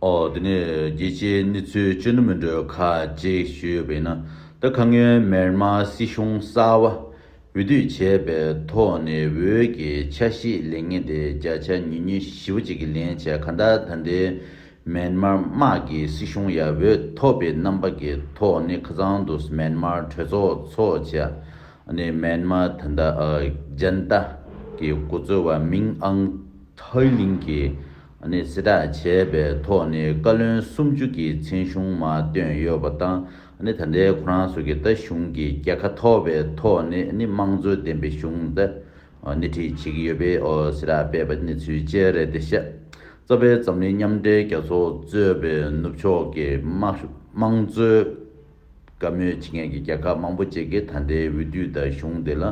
འོ་དེ་ནས་རྒྱལ་སྤྱིའི་གནས་ཚུལ་གཅུན་ན་མི་འགྲོ་ཁ་ཅིག་ཞུས་ཡོད་པས་ན་ད་ཁ་སྔོན་མེར་མ་སྲིད་གཞུང་གསར་བ་འོས་བསྡུས་བྱས་པའི་ཐོག་ནས་འོས་ཀྱི་ཆ་ཤས་ལེན་ངེས་དེ་བརྒྱ་ཆ་ཉུས་ཉུས་བཞི་བོ་གཅིག་གི་ལན་བྱས་ག་འདྲ་ད་ལྟའི་མེར་མར་དམག་གི་སྲིད་གཞུང་ཡ་འོས་ཐོབ་པའི་རྣམ་པ་གི་ཐོག་ནས་ཁ་ཚང་དུ་མེར་མར་གྲོས་ཚོགས་ཚོགས་བྱས་ནས་མེར་མ་ད་ལྟ་རྒྱན་རྟ་གི་གོ་ཚོལ་བ་མིང་ཨང་ཐའི་ལིང་གི། ནས་གཟི་བསྒྲགས་བྱས་པའི་ཐོག་ནས་བཀའ་བློན་སུམ་ཅུ་གྱི་མཚན་གཞུང་མ་བཏོན་ཡོད་པ་དང་ད་ལྟའི་ཁོ་རང་ཚོ་གི་ད་གཞུང་གི་རྒྱལ་ཁ་ཐོབ་པའི་ཐོག་ནས་དམངས་གཙོ་ལྡན་པའི་གཞུང་ད་སྣེ་ཁྲིད་བྱེད་ཀྱི་ཡོད་པའི་གཟི་བསྒྲགས་སྤེལ་པ་གནས་ཚུལ་བཅས་རེད་དེ་ཤ་ཚ་བའི་འཛམ་གླིང་མཉམ་འབྲེལ་རྒྱལ་ཚོགས་གཙོས་པའི་ནུབ་ཕྱོགས་ཀྱི་དམངས་གཙོའི། བཀའ་མོལ་བྱེད་མཁན་གྱི་རྒྱལ་ཁབ་མང་པོ་བཅས་ཀྱིས་ད་ལྟའི་འོས་བསྡུའི་ཟླ་གཞུང་འདི་ལ་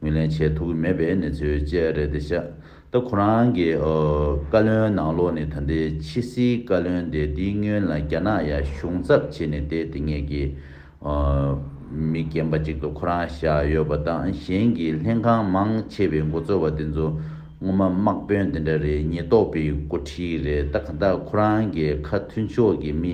ངོས་ལེན་བྱེད་ཐུབ་ཀྱི་མེད་པའི་གནས་ཚུལ་བཅས་རེད་དེ། ཤ་སྟག་ཁོ་རང་གི་བཀའ་བློན་ནང་ལོགས་ནས་ད་ལྟའི་ཕྱི་སྲིད་བཀའ་བློན་དེ་དེའི་སྔོན་ལ་རྒྱ་ནག་ཡར་གཞུང་ཚབ་བྱས་ནས་བསྡད་དེ་ངེད་ཀྱི་མི་རྒན་པ་ཅིག་ཏུ་ཁོ་རང་བཞག་ཡོད་པ་དང་གཞན་གྱི་ལྷན་ཁང་མང་ཆེ་བའི་འགོ་གཙོ་བ་དེ་ཚོ་ངོ་མ་དམག་དཔོན་དེ་འདྲ་རེད་ཉེས་རྟོག་པའི་འགོ་ཁྲིད་རེད་ད་ག་ད་ཁོ་རང་གི་ཁ་མཐུན་ཕྱོགས་ཀྱི་མི་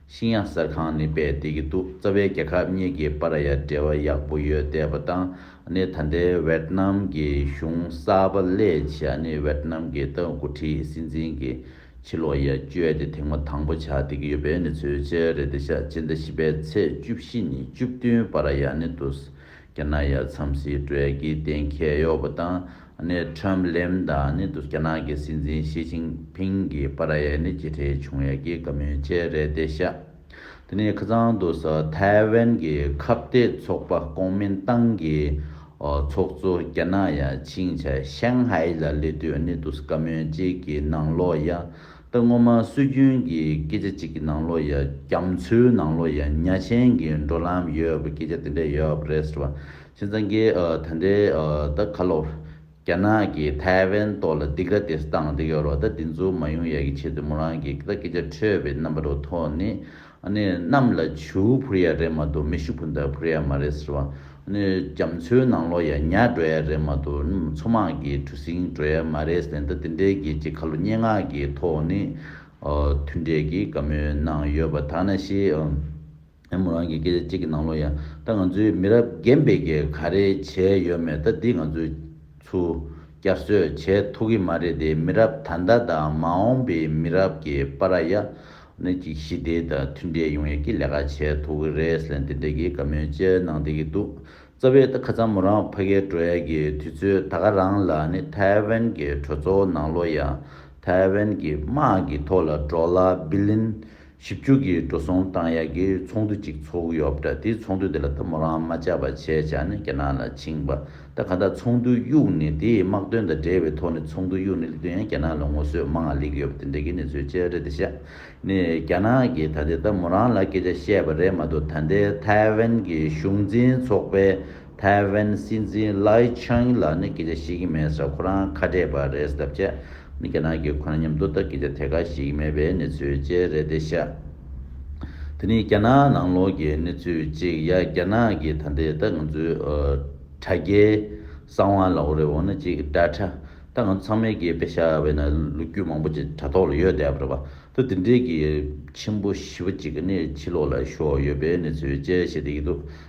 ཤིང་ཡང་གསར་ཁང་ནས་པས་བསྡད་ཀྱི་འདུག་རྩ་བའི་རྒྱལ་ཁབ་གཉིས་ཀྱི་པར་ཡ་འབྲེལ་བ་ཡག་པོ་ཡོད་བསྡད་པ་དང་ནི་ད་ལྟའི་ཝེར་ནམ་གྱི་གཞུང་གསར་པ་ལས་ཆེ་ཨ་ནི་ཝེར་ནམ་གྱི་ཏང་འགོ་ཁྲིད་སྲིད་འཛིན་གྱི་ཕྱི་ལོག་ཡ་བཅོས་དེ་དེང་མ་དང་པོ་ཆགས་བསྡད་ཀྱི་ཡོད་པའི་གནས་ཚུལ་བཅས་རེད་དེ་ཞག་སྤྱི་ཟླ་བཞི་པའི་ཚེས་བཅུ་བཞི་ཉིན་བཅུ་བདུན་པར་ཡ་ནི་དུ་རྒྱ་ནག་ཡར་མཚམས་སྲིད་གྲོས་ཀྱི་གཏན་འཁེལ་གཡོག་པོ་དང་ནི་ཁྲོམ་ལེམ་དང་ནི་རྒྱ་ནག་གི་སྲིད་འཛིན་ཞི་ཅིང་ཕིང་གི་པ་ར་ཡའི་ནི་ཅི་ཁྲེ་ཆུང་ཡ་གྱི་བཀའ་མོལ་བཅས་རེད་དེ་ཤ་དེ་ནི་ཁ་ཚང་དུ་ས་ཐའེ་ཝན་གྱི་ཁབ་གཏད་ཚོགས་པ་ཀོང་མིན་ཏང་གི་ཚོགས་གཙོ་རྒྱ་ནག་ཡ་ཆིང་ཆ་ཤན་ཧའེ་ལ་ལི་ཏུ་ནི་དུ་བཀའ་མོལ་བཅས་ཀྱི་ནང་ལོག་ཡ་ད་སྔོན་མ་སྲོལ་རྒྱུན་གྱི་སྐད་ཆ་གཅིག་གི་ནང་ལོ་ཡ་རྒྱ་མཚོའི་ནང་ལོ་ཡ་ཉྭ་ཆེན་གྱི་འགྲོ་ལམ་ཡོད་པའི་སྐད་ཆ་དེ་འདྲ་ཡོད་པ་རེད་ཟེར་བ། ཁྱེད་ཚང་གི་ད་འདྲའི་ད་ཁ་ལོ། རྒྱ་ནག་གི་ཐའེ་ཝན་ཏོ་ལ་སྡིག་ར་དེ་སྟངས་དེ་ཡོད་རོ་ད་དེ་ཚོ་མ་ཡོང་ཡ་གི་ཆེད་དུ་མོ་རང་གི་ད་སྐད་ཆ་འཕྲོས་པའི་རྣམ་པ་རུ་ཐོག་ནི་ནི་གནམ་ལ་བྱིའུ་འཕུར་ཡ་རེད་མ་གཏོགས་མི་ཤི་འཕུར་འདར་འཕུར་ཡ་མ་རེད་ཟེར་བ། ནི་རྒྱ་མཚོའི་ནང་ལོག་ཡ་ཉག་འགྲོ་ཡ་རེད་མ་གཏོགས་ནི་མཚོ་དམག་གི་གྲུ་གཟིངས་འགྲོ་ཡ་མ་རེད་ཟེར་འདི་དེ་འདྲའི་རྒྱལ་སྤྱིའི་ཁ་ལོ་སྙན་ངག་གི་ཐོག་ནས་མཐུན་འབྲེལ་གྱི་བཀའ་མོལ་གནང་ཡོད་པ་དག་ན་ཤེས། མོ་རང་གི་སྐད་ཆ་གཅིག་གི་ནང་ལོག་ཡ་ད་ང་ཚོའི་མི་རབས་རྒན་པས་ཀྱི་ག་རེ་བྱས་ཡོད་མེད་ད་འདི་ང་ཚོས་ཚུར་བསྐྱར་གསོས་བྱས་ཐུག་གི་མ་རེད་དེ་མི་རབས་ད་ལྟ་དང་མ་འོངས་པའི་མི་རབས་ཀྱི་པ་ར་ཡ། ནད་ཀྱི་ཞི་བདེ་དང་མཐུན་འབྲེལ་ཡོང་ཡག་གི་ལས་ཀ་བྱེད་ཐུབ་ཀྱི་རེད་ཟེར་འདི་འདྲ་གི་བཀའ་མོལ་བཅས་གནང་བསྡད་ཀྱི་འདུག་རྩ་བའི་ད་ཁ་ཙམ་མོ་རང་ཕ་གའི་བྲོ་ཡག་གི་དུས་ཚོད་ད་ག་རང་ལ་ནི་ཐའེ་ཝན་གྱི་གྲོས་ཚོགས་ནང་ལོ་ཡ་ཐའེ་ཝན་གྱི་དམག་གི་ཐོག་ལ་འགྲོ་ལ་བི་ལིན་བཞི་བཅུ་གི་འགྲོ་སོང་བཏང་ཡག་གི་ཚོགས་འདུ་གཅིག་ཚོགས་ཡོད་པ་འདྲ་དེ་ཚོགས་འདུ་དེ་ལ་ད་མོ་རང་མ་བཅར་བ་བྱས་བྱས་ནས་རྒྱ་ནག་ལ་ཕྱིང་པ། ད་ག་ད་ཚོགས་འདུའི་དབྱུག་ནི་དེའི་དམག་དོན་དང་འབྲེལ་བའི་ཐོག་ནས་ཚོགས་འདུའི་དབྱུག་ནི་ལི་ཐུ་ཡན་རྒྱ་ནག་ལ་ངོ་སོས་མང་ང་ལེགས་ཡོད་པ་དེ་འདྲ་གི་གནས་ཚུལ་བཅས་རེད་དེ་ཤ་ནི་རྒྱ་ནག་གི་ད་དེ་ད་མོ་རང་ལ་སྐད་ཆ་བཤད་པ་རེད་མ་གཏོགས་ད་ལྟའི་ཐའེ་ཝན་གི་གཞུང་འཛིན་ཚོགས་པའི་ཐའེ་ཝན་སྲིད་འཛིན་ལའི་ཆང་ལ་ནི་སྐད་ཆ་བཤད་ཀྱི་མེད་ས་ཁོ་རང་ཁ་བྲལ་བ་རེད་ཟེར་ཐབས་བྱས་ནི་རྒྱ་ནག་གི་ཁོ་ན་མཉམ་དུ་ལྟ་སྐྱེ་བྱ་ཐད་ཀར་ཞིག་མེད་པའི་གནས་ཚུལ་བཅས་རེད་དེ་ཤ་དེ་ནི་རྒྱ་ནག་ནང་ལོགས་ཀྱི་གནས་ཚུལ་གཅིག་ཡ་རྒྱ་ནག་གི་ད་འདི་ལྟ་ང་ཚོའི་དྲ་རྒྱའི་གསང་བ་ལ་འོ་རེ་འོ་ན་ཅིག་དྲ་ཁྲ་ད་ང་ཚོ་ཚང་མའི་དགེ་བེད་ཤ་བས་ན་ལུ་གུ་མང་པོ་ཅིག་དྲ་ཐོག་ལ་ཡོད་བསྡད་པ་རེད་པ་ད་འདི་འདྲའི་གི་ཆེན་པོ་བཞི་བ་ཅིག་གི་ནི་ཕྱི་ལོགས་ལ་ཤོག་ཡོད་པའི་གནས་ཚུལ་བཅས་བཤད་བསྡད་ཀྱི་འདུག་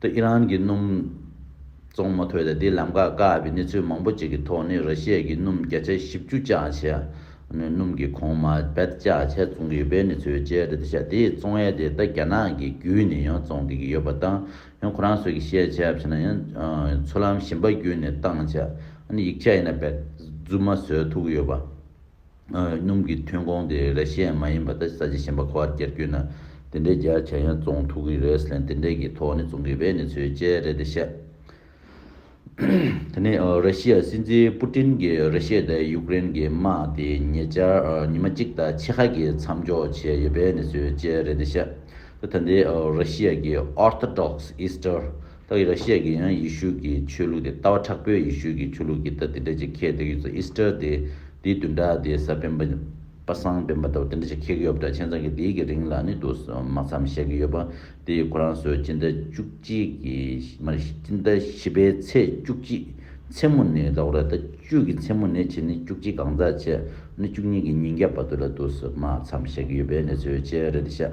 ཏུ་ཨི་རན་གྱི་སྣུམ་བཙོང་མ་ཐོས་ཏེ་དེ་ལམ་ཁར་བཀག་པའི་གནས་ཚུལ་མང་པོ་ཅིག་གི་ཐོག་ནས་ར་ཤི་ཡའི་གི་སྣུམ་བརྒྱ་ཆ་བཞི་བཅུ་བཅའ་ཆས་ནས་སྣུམ་གྱི་གོང་མ་བེད་བཅའ་ཆས་བཙོང་གི་ཡོད་པའི་གནས་ཚུལ་བཅས་རེད་ཤག་དེའི་བཙོང་ཡས་དེ་ད་རྒྱ་ནག་གི་བརྒྱུད་ནས་ཡང་བཙོང་གི་ཡོད་པ་དང་ཡང་ཁོ་རང་ཚོས་གི་ཤེས་བྱ་ཕྱི་ན་ཡང་འཚོ་ལམ་གཞན་པ་བརྒྱུད་ནས་བཏང་ཆས་ཡིག་ཆ་ཡིན་ན་བེད་བརྫུ་མ་བཟོས་ཐུག་ཡོད་པ། སྣུམ་གྱི་ཐོན་ཁུངས་དེ་རེ་ཤས་མ་ཡིན་པ་དེ་ས་བྱི་ཞན་པ་ཁོ་བར་བསྐྱལ་རྒྱུ་ནི་དེ་འདྲའི་རྒྱ་ཆེ་ཡང་བཙོང་ཐུག་གི་རེད་སླད་དེ་འདྲའི་གི་ཐོག་ནས་བཙོང་གི་བས་ནི་ཚོས་བཅད་རེད་དེ་བཤད། དེ་ནས་རེ་ཤི་ཡ་སྲིད་འཛིན་པུ་ཏིན་གྱི་རེ་ཤེ་དེ་ཡུཀ་རེན་གྱི་དམག་དེ་ཉེ་ཆར་ཉི་མ་གཅིག་དང་ཕྱེད་ཁ་གི་མཚམས་འཇོག་བྱས་ཡོད་བས་ནི་ཚོས་བཅད་རེད་དེ་བཤད། དེ་ད་ལྟའི་རེ་ཤི་ཡ་གྱི Orthodox Easter། ཐག་ཡེ་ར་ཤཱི་ཡ་ཡང་ཡེ་ཤུ་ཀྱི་ཆོས་ལུགས་དེ་ལྟ་བ་དྲག་པོས་ཡེ་ཤུ་ཀྱི་ཆོས་ལུགས་ཀྱི་ལྟ་དེ་འདྲ་ཅིག་ཁྱེད་དེ་གི་ཡོད་ཚོད Easter དེ་དེའི་བདུན་ཕྲག་དེའི་ས་བེམ་པ་པ་སངས་བེམ་པ་ལྟ་བུ་དེ་འདྲ་ཅིག་ཁྱེད་གི་ཡོད་པ་འདྲ་ཁྱེད་ཚང་གི་དེའི་གི་རིང་ལ་ནི་དུ་མ་ཚམ་བཤད་གི་ཡོད་པ་དེ་ཡི་གོ་རང་སོའི་སྤྱི་ཟླ་བཅུ་གཅིག་གི་མ་རེད་སྤྱི་ཟླ་བཞི་པའི་ཚེས་བཅུ་གཅིག་མཚན་མོ་ནི་ཟླ་གོ་ར་ཟླ་བཅུ་གི་མཚན་མོ་ནི་བྱེད་ནི་བཅུ་གཅིག་གང་ཟག་བྱེད་ནི་བཅུ་གཉིས་གི་ཉིན་རྒྱབ་པ་དུ་ལ་དུ་མ་ཚམ་བཤད་གི་ཡོད་པའི་གནས་ཚུལ་བཅས་རེད་ཤག།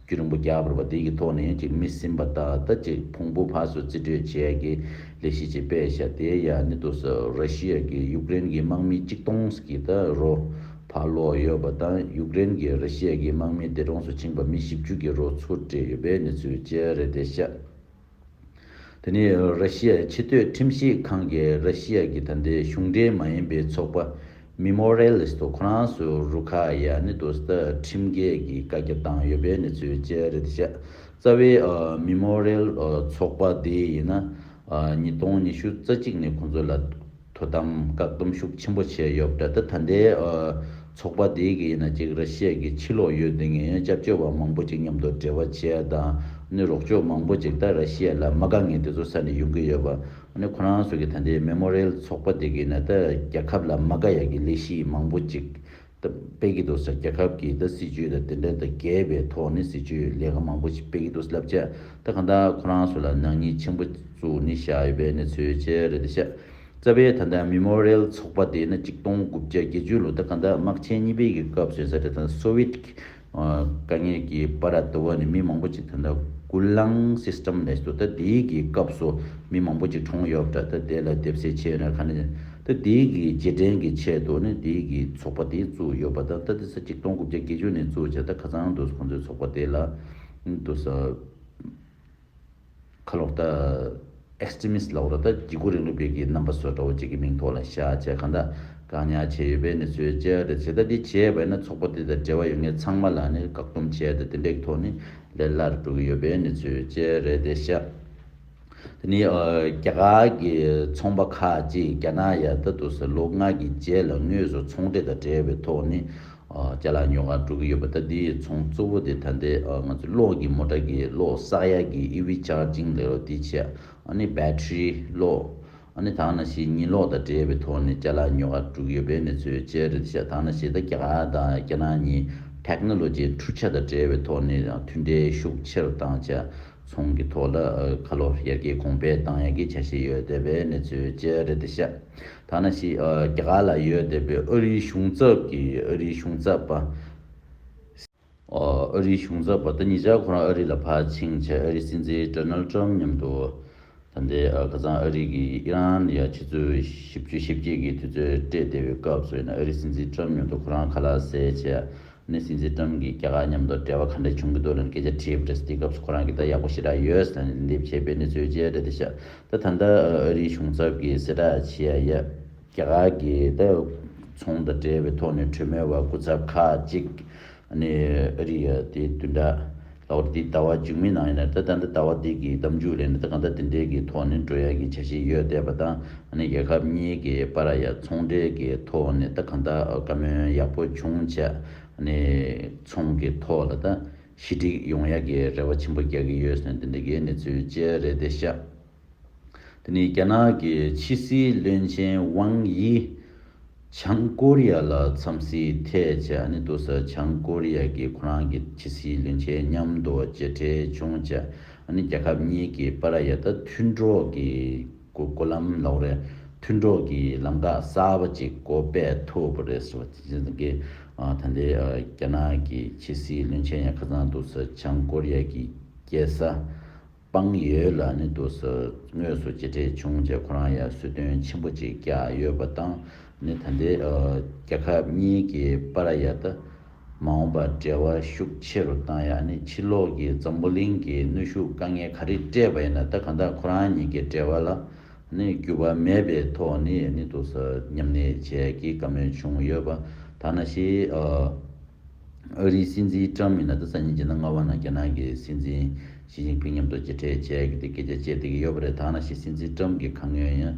རྒྱུ་རིང་པོ་རྒྱག་དགོས་པ་དེ་ཡི་ཐོག་ནས་ཅིག་མི་ཟིན་པ་ད་ལྟ་ཅིག་ཕུང་པོ་བྷ་སུ་རྩིས་སྤྲོད་བྱས་ཀྱི་ལས་གཞི་ཅིག་སྤེལ་བྱ་དེ་ཡ་ནི་དུ་སུ་ར་ཤི་ཡ་གིས་ཡུཀ་རེན་གྱི་དམག་མི་གཅིག་སྟོང་ཟི་ཀི་ད་རོ་བྷ་ལོ་ཡོད་པ་དང་ཡུཀ་རེན་གྱིས་ར་ཤི་ཡ་གི་དམག་མི་འདས་གྲོངས་སུ་ཕྱིན་པ་མི་བཞི་བཅུ་གྱི་རོ་ཚུར་སྤྲད་ཡོད་པའི་གནས་ཚུལ་བཅས་རེད་དེ་ཤ་དེ་ནི་ར་ཤི་ཡའི་ཕྱི་སྡོད་ཁྲིམས་ཞིབ་ཁང་གིས་ར་ཤི་ཡ་གྱི་ད་ལྟའི་གཞུང་འབྲེལ་མ་ཡིན་པའི་ཚོགས་པ་མི་མོ་རེ་ལིས་ཏོ་ཁོ་རང་སུ་རུ་ཁ་ཡ་ནི་ཏོ་སི་ཏཱ་ཁྲིམས་འགལ་གྱི་བཀའ་རྒྱ་བཏང་ཡོད་པའི་གནས་ཚུལ་བཅས་རེད་དེ་ཤ་རྩ་བའི་མི་མོ་རེ་ལིས་ཏོ་ཚོགས་པ་དེ་ཡིན་ན་ཉིས་སྟོང་ཉི་ཤུ་རྩ་གཅིག་ནས་ཁོང་ཚོ་ལ། དོ་དམ་བཀག་སྡོམ་ཤུགས་ཆེན་པོ་བྱས་ཡོད་པ་རེད་ད་ལྟ་འདའི་ཚོགས་པ་དེའི་གི་ཡིན་ཅིག་ར་ཤི་ཡའི་གི་ཕྱི་ལོགས་ཡོད་དེ་ངའི་སྐྱབས་བཅོལ་བ་མང་པོ་ཅིག་མཉམ་དུ་འབྲེལ་བ་བྱས་དང་ནི་རོགས་སྐྱོར་མང་པོ་ཅིག་ད་ར་ཤི་ཡ་ལ་མ་དགའ་ངས་དེ་ཚོ་ས་ནས་ཡོང་གི་ཡོད་པ་ནི་ཁོ་རང་ཚོ་གི་ད་འདའི་མེ་མོ་རེལ་ཚོགས་པ་དེ་གི་ཡིན་ད་རྒྱ་ཁབ་ལ་མ་དགའ་ཡ་གི་ལས་གཞི་མང་པོ་ཅིག་པེ་ཀི་ཏོ་སར་རྒྱལ་ཁབ་ཀྱི་ད་སྲིད་ཇུས་དང་དེ་འབྲེལ་ད་རྒྱལ་བའི་ཐོག་ནས་སྲིད་ཇུས་ལས་ཀ་མང་པོ་ཞིག་པེ་ཀི་ཏོ་སི་ལབ་ཆ་ད་གང་དག་ཁོ་རང་སུ་ལ་ནག་ཉེས་ཆེན་པོ་བཙུགས་ནི་བཞག་ཡོད་པའི་གནས་ཚུལ་ཆེ་རེད་ད་ཤ་ཚ་བའི་ད་ད་མི་མོ་རེལ་ཚོགས་པ་དེ་ན་གཅིག་སྟོང་དགུ་བརྒྱ་བརྒྱད་ཅུ་ལོ་ད་གང་དག་དམག་ཆེན་གཉིས་པའི་གི་སྐབས་བཟོས་ས་རེད་ད་སོ་བིད་ཀྱི་དཀའ་ངལ་གྱི་པར་ར་དུ་བ་ནི་མི་མང་པོ་ཅིག་དེ་འདྲ་སྐུ་གླང system ལས་སུ་ད་དེའི་གི་སྐབས་སུ་མི་མང་པོ་ཅིག་གྲོངས་ཡོད་པ་འདྲ་ད་དེ་ལ་དེབ་གསལ་ཆེ་ཡོད་ན་ག་ནས་ད་དེའི་གི་རྗེས་དྲན་གི་ཆེད་དུ་ནི་དེའི་གི་ཚོགས་པ་དེ་བཙུགས་ཡོད་པ་དང་ད་དེ་ས་གཅིག་སྟོང་དགུ་བརྒྱ་བརྒྱད་ཅུ་ནས་བཙུགས་བྱས་ད་ཁ་ཚང་འདུག་ཁོང་ཚོའི་ཚོགས་པ་དེ་ལ་འདུག་ས། ཁ་ལོག་ལྟ། Extremist། ལ་ཧོར་ལྟ་བགྱི་སྒོ་རིང་ལུགས་བེད་ཀྱི་རྣམ་པ་སོགས་གྲྭ་བ་གཅིག་གི་མིང་ཐོག་ལ་བཤའ་བྱས་གང་དག་བཀག་ཉར་བྱས་ཡོད་པའི་གནས་ཚུལ་བཅས་རེད་བྱས་ལྟ་འདི་བྱས་བས་ན་ཚོགས་པ་དེ་དང་འབྲེལ་བ་ཡོད་མཁན་ཚང་མ་ལ་ནི་བཀག་སྡོམ་བྱས་ཏེ་དེ་འདྲས་ཀྱི་ཐོག་ནས་ལས་སླར་འགྲོ་གི་ཡོད་པའི་གནས་ཚུལ་བཅས་རེད་དེ་བཤའ། དེ་ནི་རྒྱ་གར་གྱི་ཚོང་པ་ཁག་ཅིག་རྒྱ་ནག་ཡ་ད་དུ་ཟེར་ལོ་ལྔ་གྱི་རྗེས་ལ་དངོས་སུ་ཚོང་འབྲེལ་དང་འབྲེལ་བའི་ཐོག་ནས་ལྕེ་ལ་ཉོ་གར་འགྲོ་གི་ཡོད་པ་ལྟ་དེའི་ཚོང་གཙོ་བོ་དེ་ད་འདི་ང་ཚོའི་གློག་གི་མོ་ཏར་གྱི་གློག་བསགས་ཡས་ཀྱི EV Charging ལས་རོགས་དེ་བྱས་ཨ་ནི Battery གློག་ཨ་ནི་དག་ན་ཞེས་ཉི་གློག་དང་འབྲེལ་བའི་ཐོག་ནས་ལྕེ་ལ་ཉོ་གར་འགྲོ་གི་ཡོད་པས་ནི་ཚོའི་ལྕེ་རེད་བྱས་དག་ན་ཞེས་ད་རྒྱ་གར་དང་རྒྱ་ནག་གཉིས Technology འཕྲུལ་ཆ་དང་འབྲེལ་བའི་ཐོག་ནས་མཐུན་འབྲེལ་ཤུགས་ཆེ་རུ་བཏང་བྱས་ཚོང་གི་ཐོག་ལ་ཁ་ལོ་ཡར་གྱི་གོང་འཕེལ་བཏང་ཡག་གི་བྱ་བཞེས་ཡོད་བསྡད་པའི་གནས་ཚུལ་བཅས་རེད་འདི་ཤ་ཐ་ན་ཤི་རྒྱ་གར་ལ་ཡོད་བསྡད་པའི་ཨོ་རིའི་གཞུང་ཚབ་ཀྱི་ཨོ་རིའི་གཞུང་ཚབ་པ་སི། ཨོ་རིའི་གཞུང་ཚབ་པ་ཏི་ཉིས་ཅག་ཁོ་རང་ཨོ་རི་ལ་ཕར་ཕྱིན་ཆད་ཨོ་རི་སྲིད་འཛིན Donald Trump མཉམ་དུ་ད་ལྟའི་ཁ་ཚང་ཨོ་རི་གི་ཨི་རན་ཡ་ཕྱི་ཚུལ་ཞིབ་བརྗོད་ཞིབ་རྒྱས་ཀྱི་དུས་ཚོད་སྤྲད་བསྡད་པའི་སྐབས་སུ་ཡིན་ཨོ་རི་སྲིད་འཛིན Trump མཉམ་དུ་ཁོ་རང་ཁ་ལག་ཟས་བཅས་ནས་སྲིད་འཛིན་ཀྲམ་གྱིས་རྒྱ་གར་མཉམ་དུ་འབྲེལ་བ་ག་འདྲ་བྱུང་གི་འདུག་ལན་སྐད་ཆ་དྲིས་པ་རེད་དེ་སྐབས་སུ་ཁོ་རང་གིས་ད་ཡག་པོ་ཞེ་དྲག་ཡོད་ཟེར་ནས་ལན་འདེབས་བྱས་པའི་གནས་ཚུལ་བཅས་རེད་དེ་ཤ་ད་ད་ལྟ་ཨ་རིའི་གཞུང་ཚབ་ཀྱིས་གསལ་བསྒྲགས་བྱས་ཡ་ཡ། རྒྱ་གར་གྱི་ད་ཚོང་དང་འབྲེལ་བའི་ཐོག་ནས་གྲོས་མོལ་བ་སྐུ་ཚབ་ཁག་གཅིག་ནས་ཨ་རི་ཡ་དེ་དུས་འདྲ། ལ་ཨོར་འདི་ལྟ་བ་འཇུག་མི་གནང་ཡིན་ན་ད་ད་ནི་ལྟ་བ་འདི་གི་གདམ་འཇུག་ལས་ནི་ད་གང་ལྟ་འདི་འདྲའི་གི་ཐོག་ནི་འགྲོ་ཡ་གི་བྱ་བཞིན་ཡོད་བལྟས་པ་དང་ནི་རྒྱལ་ཁབ་གཉིས་གི་པ་ར་ཡ་ཚོང་འབྲེལ་གི་ཐོག་ནི་ད་གང་ལྟ་བཀའ་མོལ་ཡག་པོ་བྱུང་བྱས་ནི་ཚོང་གི་ཐོག་ལ་ད་ཞི་འགྲིག་ཡོང་ཡ་གི་རེ་བ་ཆེན་པོ་རྒྱག་གི་ཡོད་ཟེར་འདི་འདྲ་གི་ནི་ཚུལ་བཅས་རེད་དེ་ཤ། དེ་ནི་རྒྱ་ནག་གི་ཕྱི་སྲིད་བློན་ཆེན་ཝང་དབྱི། བྱང་ཀོ་རི་ཡ་ལ་འཚམས་གཟིགས་ཐད་བྱས་ཨ་ནི་ཏུ་སི་བྱང་ཀོ་རི་ཡ་གིས་ཁོ་རང་གི་ཕྱི་སྲིད་བློན་ཆེན་མཉམ་དུ་མཇལ་འཕྲད་བྱུང་བྱས་ཨ་ནི་རྒྱལ་ཁབ་གཉིས་ཀྱི་པ་ར་ཡ་ད་མཐུན་གྲོགས་ཀྱི་གོ་ལམ་ལོགས་རེ་མཐུན་གྲོགས་ཀྱི་ལམ་ཁ་གསར་པ་ཅིག་གོ་སྤེལ་ཐུབ་པ་རེད་ཟེར་བ་དེ་བཞིན་གི་ད་ལྟའི་རྒྱ་ནག་གི་ཕྱི་སྲིད་བློན་ཆེན་ཡ་ཁ་ཚང་ཏུ་སི་བྱང་ཀོ་རི་ཡ་གི་རྒྱལ་ས་དཔང་ཡོད་ལ་ནི་དུ་ས་ངོས་སུ་གྱེས་བྲེལ་བྱུང་རྗེས་ཁོ་རང་ཡར་གསོད་རྟོན་ཆེན་པོ་ཅིག་བཀྱག་ཡོད་པ་དང་ནི་ད་ལྟའི་རྒྱལ་ཁབ་གཉིས་ཀྱི་པ་ར་ཡཱ་ཏ་མ་འོངས་པར་འབྲེལ་བ་ཤུགས་ཆེ་རུ་བཏང་ཡང་ནི་ཕྱི་ལོགས་ཀྱི་འཛམ་བུ་གླིང་གི་གནོད་ཤུགས་དཀའ་ངལ་ག་རེ་སྤྲད་པ་ཡིན་ན་ད་གང་དག་ཁོ་རང་གཉིས་ཀྱི་འབྲེལ་བ་ལ་ནི་འགྱུར་བ་མེད་པའི་ཐོག་ནས་ནི་དུ་ས་མཉམ་གནས་བྱེད་ཀྱི་དཀའ་མོས་བྱུང་ཡོད་པ་དག་ན་ཞིག་ཨ་རིའི་སྲིད་འཛིན་ཀྲམ་མི་ནག་ཏུ་ས་ཉིན་བྱས་ན་རྔ་བ་ན་རྒྱ་ནག་གི་སྲིད་འཛིན་ཞི་ཅིང་ཕིང་མཉམ་དུ་མཇལ་འཕྲད་བྱས་ཏེ་སྐད་ཆ་བཤད་བསྡད་ཀྱི་ཡོད་པ་རེད་ད་ནང་བཞིན་སྲིད་འཛིན་ཀྲམ་གྱིས་གང་ཡོད་ཡང་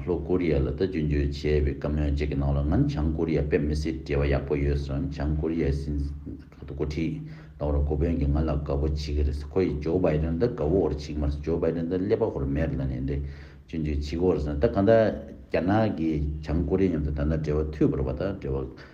ལྷོ་ཀོ་རི་ཡ་ལ་ད་རྒྱུ་འབྱོལ་བྱས་པའི་བཀའ་མོལ་བཅས་ཀྱི་ནང་ལ་ང་ནི་བྱང་ཀོ་རི་ཡ་དཔེ་མི་སྲིད་འབྲེལ་བ་ཡག་པོ་ཡོད་སོང་བྱང་ཀོ་རི་ཡའི་སྲིད་འཛིན་ག་དུ་གོ་ཁྲིད་གནང་རོགས་གོ་དཔོན་གྱིས་ང་ལ་དགའ་བོ་བྱེད་ཀྱི་རེད་ཁོ་ཡིས་ཇོ་བྷའི་རེན་ད་དགའ་བོ་བོར་བྱེད་ཀྱི་མ་རེད་ཇོ་བྷའི་རེན་ད་ཀླད་པ་བོར་མེད་རེད་ལ་ནི་འདྲེ་རྒྱུ་འབྱོལ་བྱེད་ཀྱི་བོར་སོང་ད་གང་ལྟར་རྒྱ་ནག་གིས་བྱང་ཀོ་རི་ཡ་མཉམ་དུ་ད་ལྟ་འབྲེལ་བ་མཐུད་པར་བ་ད་འབྲེལ་བ་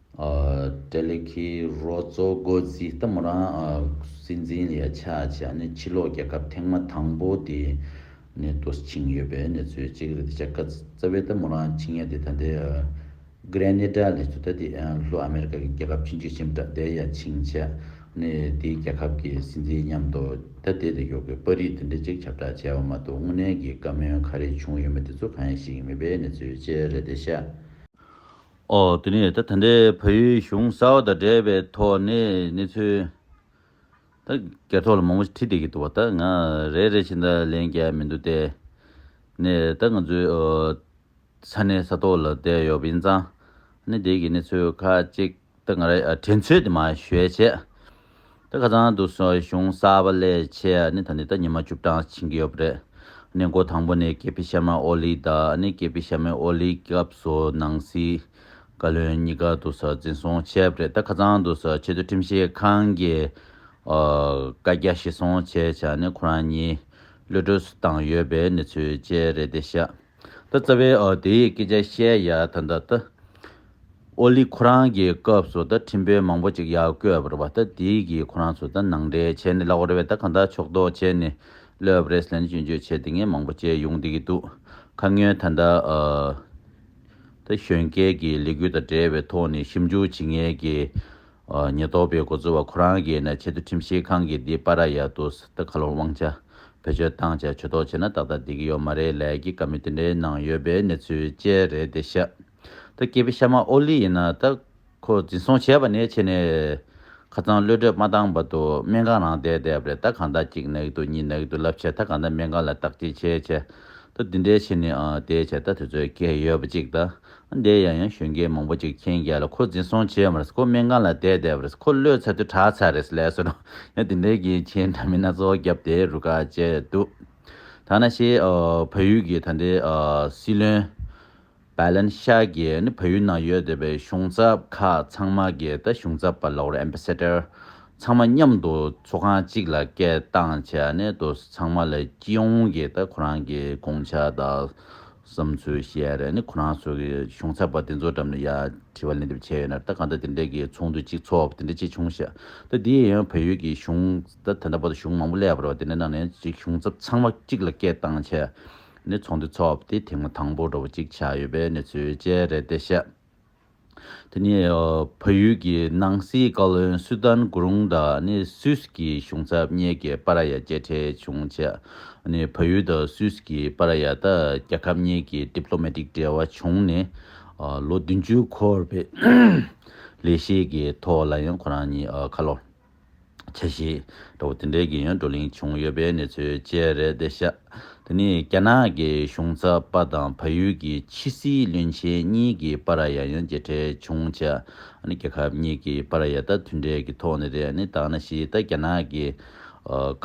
ཏེ་ལེགས་ཀྱི་རོ་གཙོ་སྒོ་རྩིས་གཏམ་མོ་རང་སྲིད་འཛིན་ལས་ཆགས་བྱས་ནས་ཕྱི་ལོག་རྒྱལ་ཁབ་ཐེངས་མ་དང་པོ་དེ་ནས་ཏུ་ཕྱིན་ཡོད་པའི་གནས་ཚུལ་གཅིག་རེད་དེ་ཆ་ཀ་ཙེ་བའི་གཏམ་མོ་རང་ཕྱིན་ཡ་དེ་ད་ལྟའི Grenada ལས་ཚོ་ད་ལྟའི་ལྷོ་ཨ་མེ་རི་ཀ་གི་རྒྱལ་ཁབ་ཕྱིན་ཅི་ཕྱིན་བྲག་དེ་ཡ་ཕྱིན་བྱས་ནས་དེའི་རྒྱལ་ཁབ་ཀྱི་སྲིད་འཛིན་མཉམ་དུ་ད་ལྟའི་དེ་ཡོ་གའི་པར་རིས་དེ་འདྲ་གཅིག་ཁྱབ་བསྒྲགས་བྱས་པ་མ་གཏོགས་དངོས་གནས་ཀྱི་བཀའ་མོལ་ག་རེ་བྱུང་ཡོད་མེད་དེ་ཚོ་གང་ཡིན་ཞིག་མེད་པའི་གནས་ཚུལ་བཅས་རེད་དེ་ཤ། ཨོ་དེ་ནས་ད་ད་འདྲའི་ཕ་ཡུལ་གཞུང་གསར་བ་དང་འབྲེལ་བའི་ཐོག་ནས་གནས་ཚུལ་ད་གེ་ཐོག་ལ་མང་པོ་ཞིག་ཁྲིད་བསྡད་ཀྱི་འདུག་བ་ད་ང་རེད་རེད་བྱས་ད་ལན་རྒྱག་མི་འདུག་ལྟས་ནས་ད་ང་ཚོའི་ས་གནས་ས་ཐོག་ལ་བསྡད་ཡོད་པ་ཡིན་ཙང་ནས་དེ་གི་གནས་ཚུལ་ཁ་ཅིག་ད་ང་ར་དྲན་ཚོད་དེ་མ་ཞོད་བྱས་ད་ག་ཙང་འདུག་སོགས་གཞུང་གསར་པ་ལས་ཆེས་ནི་ད་ནི་ད་ཉི་མ་བཅུ་གྲངས་ཕྱིན་གྱི་ཡོད་པ་རེད། གནས་མགོ་དང་པོ་ནས་ཀེ་པི་ཤར་མ་ཨོ་ལི་ད་ནི་ཀེ་པི་ཤར་མའི་ཨོ་ལི་སྐབས་སུ་ནང་སྲིད་བཀའ་བློན་གཉིས་ཀ་འདུག་སོགས་འཛིན་བཟུང་བྱས་པ་རེད་ད་ག་ཙང་འདུག་སོགས་ཆེས་མཐོའི་ཁྲིམས་ཞིབ་ཁང་གི་བཀའ་རྒྱ་གཞི་བཟུང་བྱས་བྱ་ནི་ཁོ་རང་གཉིས་གློད་གྲོལ་སུ་བཏང་ཡོད་པའི་གནས་ཚུལ་བཅས་རེད་དེ་ཤ། ད་རྩ་བའི་དེ་ཡི་སྐད་ཆ་བཤད་ཡ་ད་འདྲ་ད། ཨོ་ལི་ཁོ་རང་གི་སྐབས་སུ་ད་ཁྲིམས་དཔོན་མང་པོ་ཅིག་ཡར་བསྐོས་པར་བ་ད་དེ་གིས་ཁོ་རང་ཚོ་ད་ནང་འདྲེན་བྱས་ནས་གླག་བར་བས་ད་གང་དག་ཕྱོགས་གཏོགས་བྱས་ནས་ལོས་པ་རེད་ཟེར་ནས་སྐྱོན་བརྗོད་བྱས་དེ་ངས་མང་པོ་བྱས་ཡོང་བསྡད་ཀྱི་འདུག་ཁ་སྔོན་ད་འདྲ་ད་གཞོན་སྐལ་གྱི་ལས་འགུལ་དང་འབྲེལ་བའི་ཐོག་ནས་ཞིབ་འཇུག་བྱེད་མཁན་གྱི་ཉེན་རྟོག་པས་འགོ་གཙོ་བ་ཁོ་རང་གིས་ནས་ཆེད་དུ་ཁྲིམས་ཞིབ་ཁང་གི་འདི་པ་ར་ཡ་ཏུ་སི་ཏི་ཁ་ལོ་དབང་ཆ་བེད་སྤྱོད་བཏང་བྱས་ཇུས་གཏོགས་བྱས་ན་ཏག་ཏག་བསྡད་ཀྱི་ཡོད་མ་རེད་ལས་ཀྱི་བཀའ་མོལ་དེ་འདྲའི་ནང་ཡོད་པའི་གནས་ཚུལ་བཅས་རེད་དེ་ཤ་ཏུ་སྐྱེས་པའི་ཤ་མ་ཨོ་ལི་ཡིན་ན་ད་ཁོ་འཛིན་བཟུང་བྱས་པ་ནས་ཕྱི་ནས་ཁ་ཚང་གློད་གྲོད་མ་བཏང་བར་དུ་སྨན་ཁང་རང་བསྡད་བསྡད་པ་རེད་ད་གང་ད་གཅིག་ནག་ཏུ་གཉིས་ནག་ཏུ་བསླབ་བྱས་ད་གང་ད་སྨན་ཁང་ལ་བརྟག་དཔྱད་བྱས་བྱས་ད་འདི་འདྲའི་ཕྱི་ནས་ཨ་དེ་བྱས་ད་དེ་ཚོའི་སྐད་ཡོད་པ་གཅིག་ད་འདས་ཡང་ཡང་གཞོན་སྐྱེས་མང་པོ་ཅིག་ཁྱེད་རྒྱལ་ལ་ཁོ་འཛིན་བཟུང་བྱས་མར་ཁོ་སྨན་ཁང་ལ་བསྡད་བསྡད་པར་ཁོ་གློད་ཚར་དུས་གྲགས་ཚར་རེད་ལས་སོ། ཡང་དེ་འདྲའི་གི་ཁྱེད་འདྲ་མི་སྣ་གཙོ་བོ་རྒྱབ་དེ་རུ་ཁག་བཅད་འདུག་ཐ་ན་ཤེས་བོད་ཡུལ་གི་ད་འདྲའི་སྲིད་བློན། Bailen ཤག་གི་ནི་བོད་ཡུལ་ནང་ཡོད་དེ་བའི་གཞུང་ཚབ་ཁག་ཚང་མ་གི་ད་གཞུང་ཚབ་པ་ལོག་རེད Ambassador ཚང་མ་མཉམ་དུ་ཚོགས་ཁང་གཅིག་ལ་སྐད་བཏང་བྱས་ནས་དུ་ཚང་མ་ལ་སྐྱིད་ཨོང་གི་ད་ཁོ་རང་གི་དགོངས་འཆར་དང། བསམ་ཚུལ་བཤད་རེས་ནི་ཁོ་རང་ཚོ་གི་གཞུང་ཚབ་པ་དེ་ཚོ་འགྲམ་ནས་ཡ་དྲི་བ་ལན་འདེབས་བྱས་ཡོད་ནར་ད་གང་ལྟར་དེ་འདྲའི་གི་ཚོགས་འདུ་གཅིག་ཚོགས་དེ་འདྲ་ཅི་བྱུང་ཤག་ད་དེ་ཡང་བལ་ཡུལ་གི་གཞུང་ད་དེ་འདྲ་པོ་ད་གཞུང་མང་པོ་ལས་བར་བ་དེ་འདྲ་ནང་ནས་གཅིག་གཞུང་ཚབ་ཚང་མ་གཅིག་ལ་སྐད་བཏང་བྱས་ནས་ཚོགས་འདུ་ཚོགས་དེ་ཐེངས་མ་དང་པོ་འགྲོ་བ་གཅིག་ཆགས་ཡོད་པའི་གནས་ཚུལ་བཅས་རེད་དེ་ཤག་དེ་ནི་བལ་ཡུལ་གྱི་ནང་སྲིད་བཀའ་བློན་སུའུ་ཏན་གུ་རུང་དང་ནི་སུད་ཀྱི་གཞུང་ཚབ་གཉིས་ཀྱི་པ་ར་ཡ་གཅེས་འཕྲད་བྱུང་རྗེས་ནི་བལ་ཡུལ་དང་སུད་ཀྱི་པ་ར་ཡ་དང་རྒྱལ་ཁབ་གཉིས་ཀྱི Diplomatic འབྲེལ་བ་བྱུང་ནས་ལོ་བདུན་ཅུ་འཁོར་བའི་ལས་གཞི་གི་ཐོག་ལ་ཡང་ཁོ་རང་གཉིས་ཁ་ལོ་ཆེ་བཞེས་འདྲ་བོ་དེ་འདྲའི་རྒན་ཡོལ་བགྲོ་གླེང་བྱུང་ཡོད་པའི་གནས་ཚུལ་བཅས་རེད་དེ་ཤ་དེ་ནི་རྒྱ་ནག་གི་གཞུང་ཚབ་པ་དང་ཕ་ཡུལ་གྱི་ཕྱི་སྲིད་བློན་ཆེན་གཉིས་ཀྱི་པ་ར་ཡ་ཡོན་མཇལ་འཕྲད་བྱུང་ཆ་ནི་རྒྱལ་ཁབ་གཉིས་ཀྱི་པ་ར་ཡ་ད་མཐུན་འབྲེལ་གྱི་ཐོག་ནས་རེད་ནི་དག་ན་ཞིག་ད་རྒྱ་ནག་གི་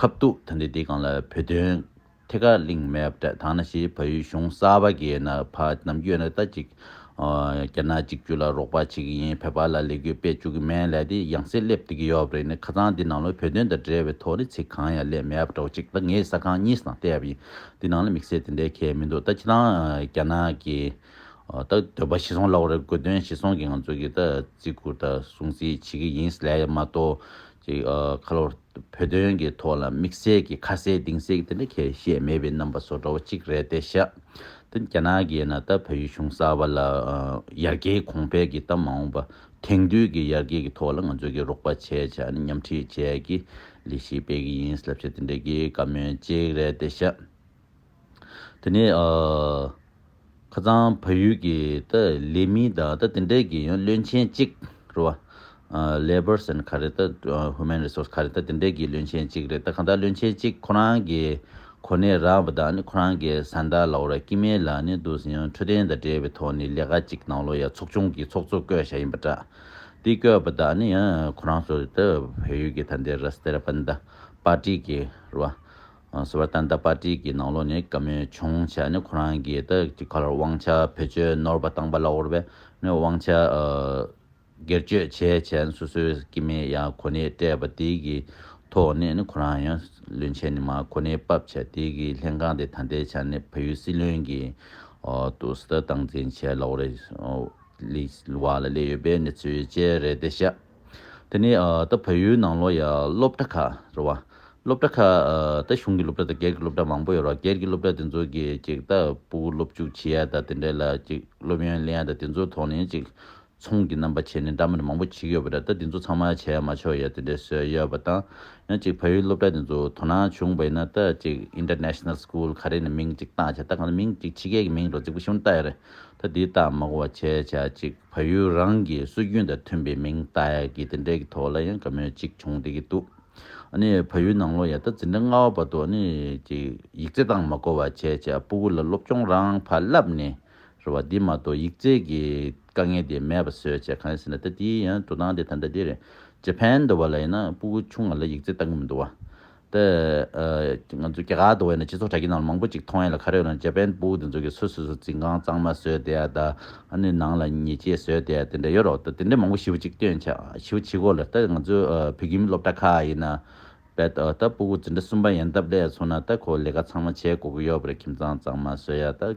ཁབ་གཏུགས་ད་འདི་དེ་གང་ལ་བོད་དོན། ཐད་ཀར་གླིང་མེད་པ་དག་ན་ཞེས་བལ་ཡུལ་གཞུང་གསར་པ་འགས་ན་བ་རྣམས་གཡོལ་ནས་ད་ཅིག་རྒྱ་ནག་གཅིག་གྱུར་ལ་རོགས་པ་བྱེད་ཀྱི་ཡིན་བལ་བར་ལ་ལས་གུས་པས་བཅུག་གི་མེད་ལས་དེ་ཡང་སེ་སླེབས་བསྡད་ཀྱི་ཡོད་པ་རེད་ནས་ཁ་ཚང་འདི་ནང་ལོ་བོད་དོན་དང་འབྲེལ་བའི་ཐོག་ནས་ཚིག་གང་ཡང་ལས་མེད་པ་འདྲ་བ་ཅིག་ད་ངས་ས་ཁང་གཉིས་སུ་དང་བལྟས་པ་ཡིན་འདི་ནང་ལ་དམིགས་བསལ་དེ་འདྲའི་གལ་མི་འདུག་ད་ཁྱེད་རང་རྒྱ་ནག་གི་ད་འདོད་པ་ཤི་སོང་ལབ་བར་དགོས་དོན་ཤི་སོང་གི་ང་ཚོ་གི་ད་བརྩི་བཀུར་དང་སྲུང་བརྩི་བྱེད་ཀྱི་ཡིན་ལས་མ་གཏོགས། ཀྱི་ཁ་ལོར་བོད་དོན་གྱི་ཐོག་ལ་དམིགས་བསལ་གྱི་ཁ་གསལ་གདིང་གསལ་གྱི་དེ་འདྲ་ཁྱེད་ཤེས་མེད་པའི་རྣམ་པ་བཟོ་འདྲ་བ་གཅིག་རེད་དེ་ཤ་ཏི་རྒྱ་ནག་གི་ཡིན་ན་ད་བོད་ཡུལ་གཞུང་གསར་བ་ལ་ཡར་རྒྱས་གོང་འཕེལ་གྱི་ད་མ་འོངས་པ་དེང་དུས་ཀྱི་ཡར་རྒྱས་ཀྱི་ཐོག་ལ་ང་ཚོས་ཀྱི་རོགས་པ་བྱས་ཆ་ནི་མཉམ་ཁྲིད་བཅས་ཀྱི་ལས་གཞི་སྤེལ་གྱི་ཡིན་ལབ་ཆ་དེ་འདྲ་གྱི་བཀའ་མོལ་གཅིག་རེད་དེ་ཤ། དེ་ནས་ཁ་སང་བལ་ཡུལ་གྱི་ལས་མི་དང་དེ་འབྲེལ་གྱི་ཡང་བློན་ཆེན་གཅིག་རེད་བ། Labours and ག་རེ་དང Human Resource ག་རེ་དང་དེ་འབྲེལ་གྱི་བློན་ཆེན་གཅིག་རེད་ད་གང་ལྟར་བློན་ཆེན་གཅིག་ཁོ་རང་གི་གོ་གནས་རག་པ་དང་ཁོ་རང་གི་བཟའ་ཟླ་ལའོ་ར་ཀི་མེ་ལ་ནས་འདུག་ཟིན་ཡང་འཕྲོད་བསྟེན་དང་འབྲེལ་བའི་ཐོག་ནས་ལས་ཀ་གཅིག་གནང་ལོ་ཡ་ཚོགས་ཆུང་གི་ཚོགས་གཙོ་བསྐོས་བཞག་ཡིན་པ་འདྲ། དེ་བསྐོས་པ་དང་ཡང་ཁོ་རང་ཚོ་བལ་ཡུལ་གྱི་ད་འདི་ར་སྟེ་ར་པན་དང་པར་ཏི་གི་རེད་བ། ཟེར་བ་ཏན་ཏན་པར་ཏིས་ཀྱི་ནང་ལོགས་ནས་བཀའ་མོལ་བྱུང་བྱས་ནས་ཁོ་རང་གིས་ད་ཀྱི་ཁར་དབང་ཆ་བེད་སྤྱོད་ནོར་བ་བཏང་པ་ལ་བོར་བས་ནས་དབང་ཆ་སྒེར་སྤྱོད་བྱས་བྱས་ནས་སོ་སོའི་སྐྱེ་མི་ཡ་གོ་ནས་སྤྲད་པ་དེ་ཀྱི་ཐོག་ནས་ནས་ཁོ་རང་ཡང་བློན་ཆེན་ནས་མ་གོ་ནས་བབས་བྱས་དེ་ཀྱི་ལྷན་ཁང་དེ་ད་ལྟའི་ཆ་ནས་བལ་ཡུལ་སྲིད་བློན་གྱི་ཏུ་སི་ཏ་སྟངས་འཛིན་བྱས་ལ་བོར་བ་ལ་སླེ་ཡོད་པས་ནས་ཚུལ་བཅད་རེད་དེ་ཤ། དེ་ནི་ད་བོད་ཡུལ་ནང་ལོ་ཡ་སློབ་གྲྭ་ཁག་རེད་བ། སློབ་གྲྭ་ཁག་ད་གཞུང་གི་སློབ་གྲྭ་དང་སྒེར་གྱི་སློབ་གྲྭ་མང་པོ་ཡོད་རེད་བ་སྒེར་གྱི་སློབ་གྲྭ་དེ་ཚོ་གིས་ཅིག་ད་པུ་གུ་སློབ་འཇུག་བྱེད་ཡ་ད་དེ་འདྲ་ལ་ཅིག་སློབ་ཡོན་ལེན་ཡ་ད་དེ་ཚོའི་ཐོག་ནས་ཅིག་ཚོང་གི་རྣམ་པ་བྱས་ནས་འདྲ་མིན་མང་པོ་བྱེད་ཀྱི་ཡོད་པ་རེད་ད་དེ་ཚོ་ཚང་མ་བྱས་ཡ་མ་ཆོག་ཡ་དེ་འདྲའི་སྲོལ་ཡོད་བ་དང། ཡང་ཅིག་བོད་ཡུལ་སློབ་གྲྭ་དེ་ཚོ་དོ་སྣང་བྱུང་བས་ན་ད་ཅིག International School ག་རེ་ནས་མིང་ཅིག་བཏགས་བྱ་ད་གང་ལྟར་མིང་ཅིག་ཕྱི་རྒྱལ་གྱི་མིང་རུ་རྫིག་པོ་ཞིག་མ་བཏགས་ཡ་རེད་ད་དེའི་རྟགས་མ་གོ་བ་བྱས་བྱ་ཅིག། བལ་ཡུལ་རང་གི་སྲོལ་རྒྱུན་དང་མཐུན་པའི་མིང་བཏགས་ཡག་གི་དེ་འདྲའི་གི་ཐོག་ལ་ཡང་ག་མོད་ཅིག་བྱུང་བསྡད་ཀྱི་འདུག་ཨ་ནི་བལ་ཡུལ་ནང་ལོ་ཡ་ད་ཛི་འདྲ་སྔ་བ་བར་དུ་ཨ་ནི་ཅིག་ཡིག་རྩེ་དང་མ་གོ་བ་བྱས་བྱས་ཨ་སྤུ་གུ་ལ་སློབ་སྤྱོང་རང་ཕར་བསླབས་ནས་རེད་བ་དེ་མ་གཏོགས་ཡིག་རྩེ་གི་དཀའ་ངལ་དེ་མེད་པ་བཟོས་བྱས་གང་ཡིན་ཟེར་ན་ད་དེའི་ཡང་འགྲོ་སྟངས་དེ་ད་འདྲ་དེ་རེད་ཇེ་ཕན་འདོ་བ་ལ་ཡིན་ན་སྤུ་གུ་ཆུང་ང་ལ་ཡིག་རྩེ་བཏང་གི་མི་འདུག་བ་དེ། ང་ཚོའི་སྐྱེ་ཁག་ཏུ་བས་ན་སྤྱི་ཚོགས་དྲ་རྒྱའི་ནང་ལ་མང་པོ་ཅིག་མཐོང་ཡ་ལ་ཁ་རས་ལོན་ཇ་པན་པུའུ་དེ་ཚོ་གི་སུ་སུ་སུ་འཛིན་ཁང་གཙང་མ་བཟོས་དེ་ཡ་ད་ཨ་ནི་ནང་ལ་ཉེས་ཆད་བཟོས་དེ་ཡ་དེ་འདྲ་ཡོད་རོགས་ད་དེ་འདྲ་མང་པོ་ཞིབ་ཅིག་སྟོན་བྱ་ཞིབ་བྱེད་གོ་ལ་ད་ང་ཚོའི་བོད་ཁྱིམ་སློབ་གྲྭ་ཁག་ཡིན་ན་བས་ད་ད་པུའུ་འཛིན་གྲྭ་གསུམ་པ་ཡན་སྟབས་ལས་སོང་ན་ད་ཁོ་ལས་ཀ་ཚང་མ་བྱེད་དགོས་ཀྱི་ཡོད་པ་རེད་ཁྱིམ་ཚང་གཙང་མ་བཟོས་ཡ་ད།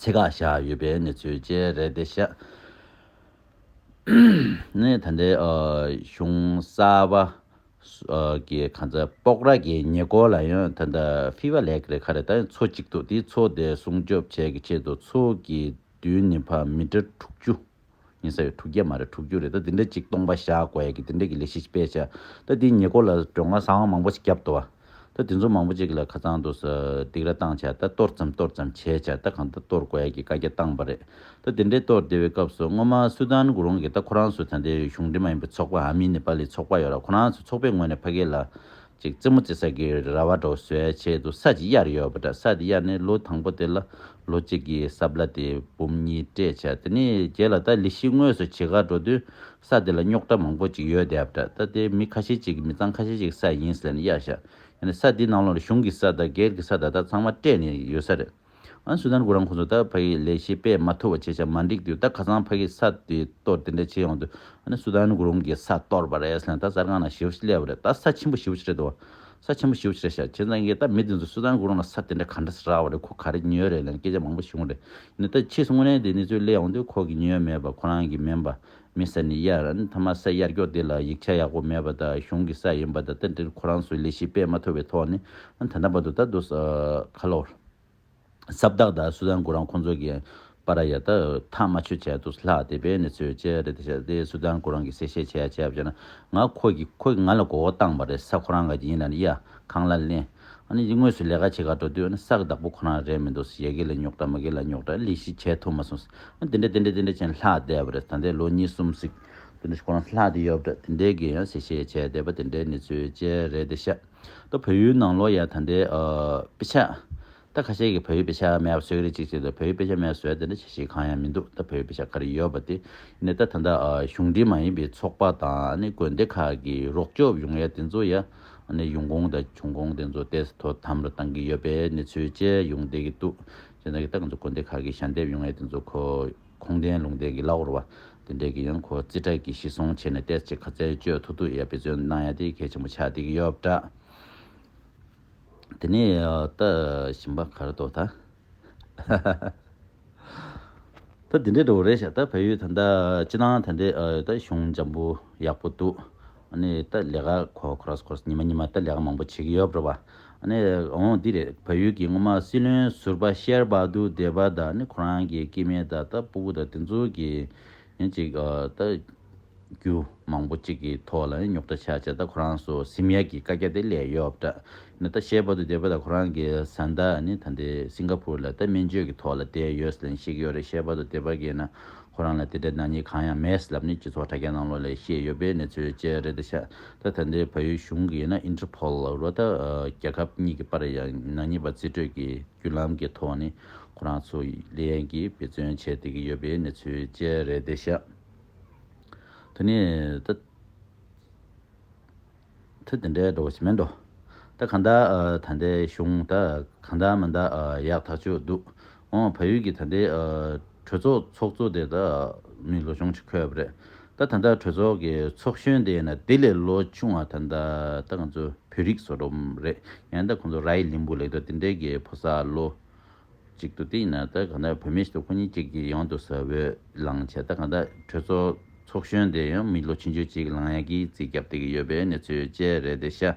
ཚད་བཀག་བཞག་ཡོད་པའི་གནས་ཚུལ་བཅས་རེད་དེ། ཞག་གནས་ད་ལྟའི་གཞུང་གསར་པ་གི་ཁང་ཚ་དཔོག་ར་གི་ཉེ་སྐོར་ལ་ཡང་ད་ལྟ་ཧྥི་བ་ལེགས་རེ་ཁ་རེ་ད་ཡང་འཚོ་གཅིག་འདུག་དེའི་འཚོ་དེ་སྲུང་སྐྱོབ་བྱས་ཀྱི་ཆེད་དུ་འཚོ་གི་དུས་ནི་ཕ་མི་དྲ་དྲུག་ཅུ། ཉེ་ས་ཡོད་དྲུག་བརྒྱ་མ་རེད་དྲུག་ཅུ་རེད་ད་འདི་འདྲ་གཅིག་སྟོང་པ་བཞག་དགོས་ཡ་གི་འདི་འདྲ་གི་ལས་གཞི་ཅིག་སྤེལ་བྱས་ད་འདིའི་ཉེ་སྐོར་ལ་སྒྲོན་མཁར་ཟངས་བ་མང་པོ་ཞིག་བརྒྱབ་འདུག་བ་ད་འདི་ཚོ་མང་པོ་ཅིག་ལ་ཁ་ཚང་འདུག་ཟེར་སྡིག་ར་བཏང་བྱས་ད་གཏོར་ཙམ་གཏོར་ཙམ་བྱས་བྱས་ད་གང་ད་གཏོར་དགོས་ཡ་གི་བཀའ་རྒྱ་བཏང་བ་རེད་ད་འདི་འདྲའི་གཏོར་དེ་བའི་སྐབས་སུ་སྔོན་མ་སུ་དཱན་གུ་རུང་གིས་ད་ཁོ་རང་ཚོ་ད་འདི་གཞུང་འབྲེལ་མ་ཡིན་པའི་ཚོགས་པ་ཨ་མི་ནི་པ་ལི་ཚོགས་པ་ཡོད་ར་ཁོ་རང་ཚོ་ཚོགས་པའི་ངོས་ནས་ཕ་སྐད་ལ་ཅིག་རྩེ་མོ་རྩེ་ས་གི་ར་བ་འགྲོ་སའི་ཆེད་དུ་ས་གཅིག་གཡར་ཡོད་པ་འདྲ་ས་དེ་གཡར་ནས་ལོ་དང་པོ་དེ་ལ་ལོ་གཅིག་གི་ས་བརླ་དེ་འབུམ་གཉིས་སྤྲད་བྱས་དེ་ནས་རྒྱལ་ལ་ད་ལི་ཤི་དངོས་སུ་བྱེ་གར་འགྲོ་དུས་ས་དེ་ལ་རྙོག་དྲ་མང་པོ་ཅིག་ཡོད་བསྡད་པ་འདྲ་ད་དེ་མི་ཁ་ཤས་ཅིག་གི་མི་ཚང་ཁ་ཤས་ཅིག་ས་ཡིན་ཟེར་ནས་གཡར་བཞག་ཡོད་ནས་ས་དེའི་ནང་ལོག་ནས་གཞུང་གི་ས་དང་སྒེར་གྱི་ས་ད་ལྟ་ཚང་མ་སྤྲད་ནས་ཡོད་ས་རེད། ཨ་སུ་དར་གུ་རང་ཁོ་ཚོ་ད་ཕ་གི་ལས་བྱེད་པས་མ་ཐུབ་བ་བྱས་བྱས་མ་འགྲིག་དུས་ད་ཁ་སང་ཕ་གི་ས་དེ་གཏོར་དེ་འདྲ་བྱས་ཡོང་དུས་ཨ་ནི་སུ་དར་གུ་རང་གི་ས་གཏོར་བ་རེད་ཟེར་ན་ད་གསར་ཁང་ན་ཞི་བ་ཞིག་སླེབས་པ་རེད་ད་ས་ཆེན་པོ་ཞི་བ་ཞིག་རེད་དོ། ས་ཆེན་པོ་ཞི་བ་ཞིག་རེད་ཤག་ཁྱེད་རང་གིས་ད་མི་དེ་ཚོ་སུ་དར་གུ་རང་ལ་ས་དེ་འདྲ་ག་འདྲ་ཟེར་རག་བ་རེད་ཁོ་ག་རེ་ཉོས་རེད་ལན་སྐད་ཆ་མང་པོ་ཞུ་གི་རེད་ནི་ད་ཕྱིས་སུ་དངོས་གནས་དེ་གནས་ཚུལ་གླེང་ཡོང་དུས་ཁོ་གི་ཉོས་མེད་པ་ཁོ་རང་གི་མིན་པ་མི་ས་ནི་གཡར། མཐའ་མ་ས་གཡར་སྐྱོག་འདི་ལ་ཡིག་ཆ་ཡག་པོ་མེད་པ་དང་གཞུང་གི་ས་ཡིན་པ་དང་ད་འདིར་ཁོ་རང་ཚོའི་ལས་གཞི་སྤེལ་མ་ཐུབ་པའི་ཐོག་ནས་ད་ལྟ་བར་དུ་ད་དུ་ཁ་ལོ། ས་བདག་དང་སུ་ཛན་གུ་རང་ཁོང་ཚོ་གིས་པ་ར་ཡ་ད་ཐག་མ་ཆོད་བྱས་འདུག་ལྷག་དེ་པའི་གནས་ཚུལ་ཅི་རེད་ད་ཆ་དེ་སུ་ཛན་གུ་རང་གིས་གསལ་བཤད་བྱས་ཡ་བྱས་པ་བྱས་ན་ང་ཁོ་གིས་ཁོ་གིས་ང་ལ་མགོ་བོ་བཏང་བ་རེད་ས་ཁོ་རང་ག་གི་ཡིན་ན་ཡ་གང་ལ་གླེང། ཨ་ནི་འདི་དངོས་སུ་ལས་ཀ་བྱེད་ག་འགྲོ་དུས་ཨ་ནི་ས་གི་བདག་པོ་ཁོ་རང་རེད་མི་འདུག་ཡ་གི་ལ་རྙོག་དྲ་མ་གི་ལ་རྙོག་དྲ་ལི་ཤི་བྱས་ཐུབ་མ་སོང་ཨ་ནི་དེ་འདྲ་དེ་འདྲ་དེ་འདྲ་བྱས་ནས་ལྷག་བསྡད་པ་རེད་ད་ལྟའི་ལོ་གཉིས་གསུམ་ཟིག་དེ་འདྲ་ཁོ་རང་ལྷག་དེ་ཡོད་པ་རེད་དེ་འདྲའི་གི་ཡང་ཟེ་བྱས་བྱས་བསྡད་པ་དེ་འདྲའི་ནི་ཚུལ་བཅས་རེད་དེ་ཤ་ད་བོད་ཡུལ་ནང་ལོ་ཡ་ད་འདྲའི་དཔེ་ཆ་ད་ཁ་ཤས་ཀྱིས་བོད་ཡིག་དཔེ་ཆ་མེད་པ་བཟོས་ཀྱི་རེད་ཅིག་ཅེས་དང་བོད་ཡིག་དཔེ་ཆ་མེད་བཟོས་དེ་འདྲ་བྱེད་བྱེད་གང་ཡང་མི་འདུག་ད་བོད་ཡིག་དཔེ་ཆ་ག་རེ་ཡོད་པ་དེ་ནས་ད་ད་ལྟ་གཞུང་འབྲེལ་མ་ཡིན་པའི་ཚོགས་པ་དང་དགོན་སྡེ་ཁག་གིས་རོགས་སྐྱོབ་ཡོང་ཡ་དེ་ཚོ་ཡ་ནས་ཡོང་ཁུངས་དང་བྱུང་ཁུངས་དེ་ཚོ་ཏེས་དོ་དམ་རུ་བཏང་གི་ཡོད་པའི་གནས་ཚུལ་བཅས་ཡོང་བསྡད་ཀྱི་འདུག་ཅེས་དང་གི་ད་ག་ཚོད་དགོན་སྡེ་ཁག་གིས་ཞལ་འདེབས་ཡོང་ཡ་དེ་ཚོ་ཁོ་ཁོང་བསྟན་ལུང་བསྟན་གྱི་བླ་འོར་བ་དེ་འདྲས་ཀྱིས་ཡང་ཁོ་རྩིས་ཁྲ་གིས་ཤི་སོང་བྱས་ནས་ཏེས་ཅེས་ཁ་ཚལ་བཅོས་ཐུག་ཐུག་ཡ་བེད་སྤྱོད་གནང་ཡ་དེ་གལ་ཆེན་པོ་ཆགས་བསྡད་ཀྱི་ཡོད་པ་འདྲ། དེ་ནས་ད་ཞིམ་པ་གར་དོ་ད། ད་དེ་འདྲའི་འདྲ་བོ་རེད་ཤག་ད་བལ་ཡུལ་ད་ད་ཅི་ན་ད་འདྲའི་ད་གཞུང་འཇམ་པོ་ཡག་པོ་འདུག་ཨ་ནི་ད་ལས་ཀ་ཁོ་ཁོ་རོས་ཁོ་རོས་ཉི་མ་ཉི་མ་ད་ལས་ཀ་མང་པོ་བྱེད་ཀྱི་ཡོད་རེད་བ། ཨ་ནི་འོ་འདི་རེད་བལ་ཡུལ་གྱི་སྔོན་མ་སྲིད་བློན་ཟུར་པ་ཤེར་བྷ་དུ་དེ་བ་ད་ནི་ཁོ་རང་གི་སྐྱེས་དམན་ད་ད་སྤུ་གུ་ད་དེ་ཚོ་གི་ཡང་ཅིག་ལྟ། རྒྱུ་མང་པོ་གཅིག་གི་ཐོག་ལ་ཡང་ཉོག་དྲ་བྱ་བྱེད་ད་ཁོ་རང་སོ་སིམ་ཡ་གི་བཀའ་རྒྱ་དེ་ལས་ཡོད་བ་འདྲ། ཡང་ད་ཤེས་པ་དུ་བདེ་བོ་ད་ཁོ་རང་གི་བཟའ་ཟླ་ནི་ད་འདི་སིང་ག་ཕུར་ལ་ད་སྨན་བཅོས་ཀྱི་ཐོག་ལ་བསྡད་ཡོད་ཟེར་ལན་ཞིག་ཡོད་རེད་ཤེས་པ་དུ་བདེ་བ་གིས་ན་ཁོ་རང་ལ་དེ་འདྲའི་ནག་ཉེས་གང་ཡང་མེད་ལབ་ནི་སྤྱི་ཚོགས་དྲ་རྒྱ་ནང་ལོགས་ལས་ཤེས་ཡོད་པའི་གནས་ཚུལ་བཅས་རེད་ད་ཤ་ད་ད་འདི་བལ་ཡུལ་གཞུང་གིས་ན Interpol རུ་ད་རྒྱལ་ཁབ་གཉིས་ཀྱི་བར་ཡང་ནག་ཉེས་པ་རྩིས་སྤྲོད་ཀྱི་བརྒྱུད་ལམ་གྱི་ཐོག་ནས་ཁོ་རང་ཚོ་ལས་ཡན་གྱིས་འབད་བརྩོན་བྱས་བསྡད་ཀྱི་ཡོད་པའི་གནས་ཚུལ་བཅས་རེད་དེ། ད་ནི་ད་ཐེངས་དེ་འདྲའི་འགྲོ་བ་ཞིག་མིན་འགྲོ། ད་གང་འདྲ་ད་ལྟའི་གཞུང་ད་གང་འདྲ་མིན་ད་ཡག་ཐག་ཆོད་འདུག་འོང་བ་ཡུལ་གྱི་ད་ལྟའི། གྲོས་ཚོགས་ཚོགས་གཙོ་དེ་དག་མི་ལོ་ཆུང་ཆི་ཁོད་རེད་ད་ད་ལྟ་གྲོས་ཚོགས་ཀྱི་ཚོགས་གཞོན་དེ་ཡིན་ན་དེ་ལས་ལོ་ཆུང་བ་ད་ད་ལྟ་ང་ཚོ་བོད་རིགས་བཟོ་རོམ་རེད་ཡང་ད་ཁོང་ཚོ་ར་ཡི་ལིང་བུ་ལེགས་འདུག་དེ་འདྲའི་གི་ཕོ་སར་ལོ་གཅིག་འདུག་དེ་ཡིན་ན་ད་གང་ལྟར་བོད་མི་ཞིག་ཏུ་ཁོ་གཉིས་གཅིག་གིས་ཡོང་དུ་ཟ་བོད་ལང་བྱས་ད་གང་ལྟར་གྲོས་ཚོགས་ཚོགས་གཞོན་དེ་ཡང་མི་ལོ་ཆིན་ཅུ་གཅིག་ལང་ཡ་གིས་རྩིས་རྒྱབ་སྟེགས་ཡོད་པའི་གནས་ཚུལ་བཅས་རེད་དེ་ཤ།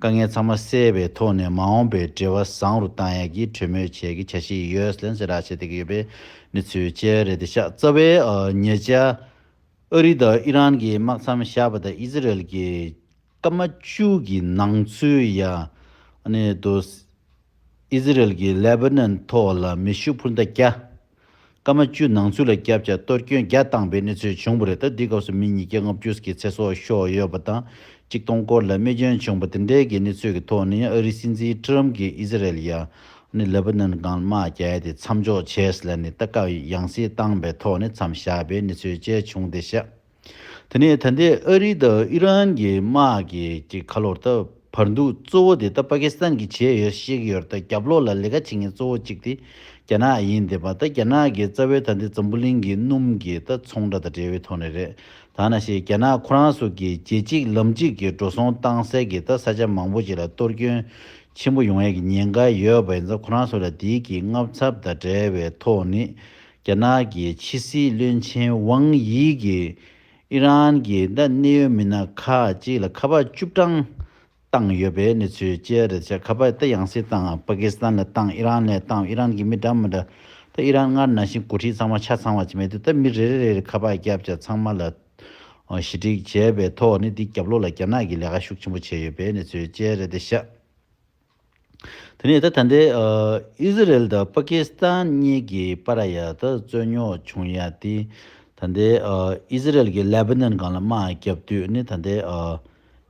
དཀའ་ངལ་ཚང་མ་སེལ་བའི་ཐོག་ནས་མ་འོངས་པའི་འབྲེལ་བ་བཟང་རུ་གཏང་ཡག་གི་གྲོས་མོལ་བྱེད་ཀྱི་བྱ་གཞི་ཡོད་ལན་ཞེས་ར་བྱེད་ཐེག་གི་ཡོད་པའི་གནས་ཚུལ་བཅས་རེད་དེ་ཤ་ཚ་བའི་ཉེ་ཆར། ཨ་རི་དང་ཨི་རན་གྱི་དམག་མཚམས་བཞག་པ་དང་ཨི་ཟི་རལ་གྱི་སྐར་མ་བཅུ་གྱི་ནང་ཚུད་ཡང་ནས་དུ་ཨི་ཟི་རལ་གྱི་ལེ་བྷ་ནོན་ཐོག་ལ་མེ་ཤུགས་འཕུར་མདའ་བརྒྱ། སྐར་མ་བཅུ་ནང་ཚུད་ལ་སྐྱབས་བཅར་གཏོར་སྐྱོན་བརྒྱ་བཏང་པའི་གནས་ཚུལ་བྱུང་བ་རེད་ད་འདི་སྐབས་སུ་མི་ཉིས་བརྒྱ་ལྔ་བཅུ་ཀྱི་ཚེ་སྲོག་ཤོར་ཡོད་པ་དང་གཅིག་སྟོང་སྐོར་ལ་རྨས་སྐྱོན་བྱུང་བ་དེ་འདྲའི་གི་གནས་ཚུལ་གི་ཐོག་ནས་ཨ་རིའི་སྲིད་འཛིན Trump གིས་ཨི་ཟི་རལ་ཡ་ནི་ལེ་བྷ་ནོན་གང་དམག་རྒྱལ་དེ་མཚམས་འཇོག་བྱས་ཟེར་ནས་ད་སྐབས་ཡང་སྲིད་བཏང་པའི་ཐོག་ནས་མཚམས་བཞག་པའི་གནས་ཚུལ་བཅས་བྱུང་སྟེ་ཤ་དེ་ནས་ད་ལྟའི་ཨ་རི་དང་ཨི་རན་གྱི་དམག་གི་གྱི་ཁ་ལོར་ད་བར་འདུག་གཙོ་བོ་དེ་ད་པ་ཀི་སི་ཐན་གྱི་བྱས་ཡོད་ཤེས་ཀྱི་ཡོད་ད་རྒྱབ་ལོག་ལ་ལས་ཀ་བྱེད་མཁན་གཙོ་བོ་གཅིག་དེ་རྒྱ་ནག་ཡིན་དེ་པ་ད་རྒྱ་ནག་གི་རྩ་བའི་ད་འདི་འཛམ་བུ་གླིང་གི་སྣུམ་གྱི་ད་ཚོང་ར་ད་འབྲེལ་བའི་ཐོག་ནས་རེད་ད་ན་ཤེས་རྒྱ་ནག་ཁོ་རང་སུ་གི་རྗེས་གཅིག་ལམ་གཅིག་གི་འགྲོ་སོང་བཏང་སའི་གི་ད་ས་ཆ་མང་བོ་ཅིག་ལ་གཏོར་སྐྱོན་ཆེན་པོ་ཡོང་ཡས་གི་ཉེན་ཀ་ཡོད་པ་ཡིན་ས་ཁོ་རང་སུ་ལ་འདི་གི་མངའ་ཚབ་ད་འབྲེལ་བའི་ཐོག་ནས་རྒྱ་ནག་གི་ཕྱི་སྲིད་བློན་ཆེན་ཝང་དབྱི་གིས་ཨི་རན་གྱི་ཟླ་གནད་ཡོད་མི་སྣ་ཁག་ཅིག་ལ་ཁ་པར་བཅུ་གྲངས་བཏང་ཡོད་པའི་གནས་ཚུལ་བཅས་རེད་བྱས་ཁ་པར་དེ་ཡང་སྲིད་དང་པ་ཀི་སི་ཐན་ལ་བཏང་ཨི་རན་ལ་བཏང་ཨི་རན་གྱི་མི་གྲངས་མི་འདྲ་ད་ཨི་རན་སྔར་ནང་བཞིན་འགོ་ཁྲིད་ཚང་མ་ཆ་ཚང་བ་ཅིག་མེད་དུས་ད་མི་རེ་རེ་རེར་ཁ་པར་བརྒྱབ་བྱ་ཚང་མ་ལ་ཞི་འགྲིག་བྱས་པའི་ཐོག་ནས་དེའི་རྒྱབ་ལོག་ལ་རྒྱ་ནག་གི་ལས་ཀ་ཤུགས་ཆེན་པོ་བྱས་ཡོད་པའི་གནས་ཚུལ་བཅས་རེད་བྱས། དེ་ནས་ད་ད་ལྟའི་ཨི་ཟི་རེལ་དང་པ་ཀི་སི་ཐན་གཉིས་ཀྱི་པ་ར་ཡ་དུ་རྩོད་རྙོག་བྱུང་ཡ་དེ། ད་ལྟའི་ཨི་ཟི་རེལ་གྱིས་ལེ་བྷི་ནན་གང་ལ་དམག་བརྒྱབ་དུས་ནི་ད་ལྟའི་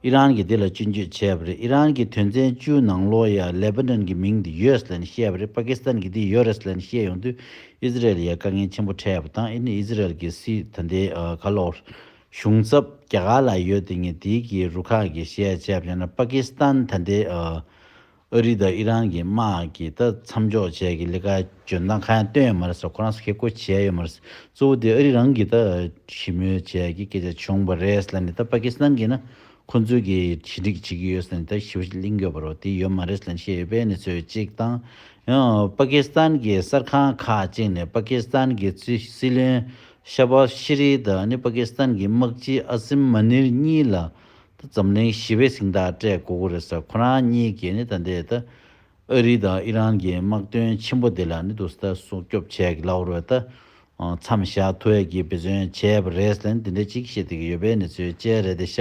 ཨི་རན་གྱིས་དེ་ལ་སྤྱི་འཇུས་བྱས་པ་རེད་ཨི་རན་གྱི་དོན་ཚན་བཅུའི་ནང་ལོ་ཡ་ལེ་བྷི་ནན་གྱི་མིང་དེ་ཡོས་ལན་བཤད་པ་རེད་པ་ཀི་སི་ཐན་གྱིས་དེ་ཡོ་རེས་ལན་བཤད་ཡོང་དུས་ཨི་ཟི་རེལ་ཡའི་དཀའ་ངལ་ཆེན་པོ་འཕྲད་པ་དང་ཨི་ནི་ཨི་ཟི་རེལ་གྱི་སི་ད་ལྟའི་གྷ་ལོར་གཞུང་ཚབ་རྒྱ་གར་ལ་ཡོད་དེ་ངས་དེའི་གི་རུ་ཁག་གི་བཤད་བྱས་བྱས་ན་པ་ཀི་སི་ཐན་ད་ལྟའི་ཨ་རི་དང་ཨི་རན་གི་དམག་གི་ད་མཚམས་འཇོག་བྱས་གི་ལི་ཁ་འཇོན་ཐང་ཁ་ཡང་བཏོན་ཡོད་མ་རེད་ས་ཁོ་རང་ས་ཁེ་ཁོ་བྱས་ཡོད་མ་རེད་གཙོ་བོ་དེ་ཨ་རི་རང་གི་ད་ཞི་མོལ་བྱས་གི་སྐད་ཆ་བྱུང་བ་རེད་ལ་ནི་ད་པ་ཀི་སི་ཐན་གི་ན་ཁོ་ཚོའི་གི་ཞི་འགྲིག་བྱེད་གི་ཡོད་ས་ནི་ད་ཞི་བ་ཞིག་གླིང་དགོས་པ་རོ་དེ་ཡོད་མ་རེད་ལ་ནི་བཤད་ཡོད་པས་ནི་ཚོད་ཅིག་དང་ཡང་པ་ཀི་སི་ཐན་གི་གསར་ཁང་ཁག་ཅིག་ནས་པ་ཀི་སི་ཐན་གི་སྲིད་བློན་ཤ་བྷ་ཤི་རི་དང་ནི་པ་ཀི་སི་ཐན་གྱི་དམག་སྤྱི་ཨ་སིམ་མ་ནིར་གཉིས་ལ་ད་འཛམ་གླིང་ཞི་བའི་གཟིངས་རྟགས་སྤྲད་གོ་གོ་རེད་ས་ཁོ་རང་གཉིས་ཀྱིས་ནི་ད་འདས་ད་ཨ་རི་དང་ཨི་རན་གྱི་དམག་དོན་ཆེན་པོ་དེ་ལ་ནི་དུ་ས་ད་སྲུང་སྐྱོབ་བྱས་གི་ལ་བར་ད་མཚམས་བཞག་ཐུ་ཨེ་ཀྱིས་འབད་བརྩོན་བྱས་པ་རེད་ལ་ནི་འདི་འདྲ་ཅིག་བཤད་དེ་གི་ཡོད་པའི་ནི་ཚོའི་དཔྱད་རེད་དེ་ཤ་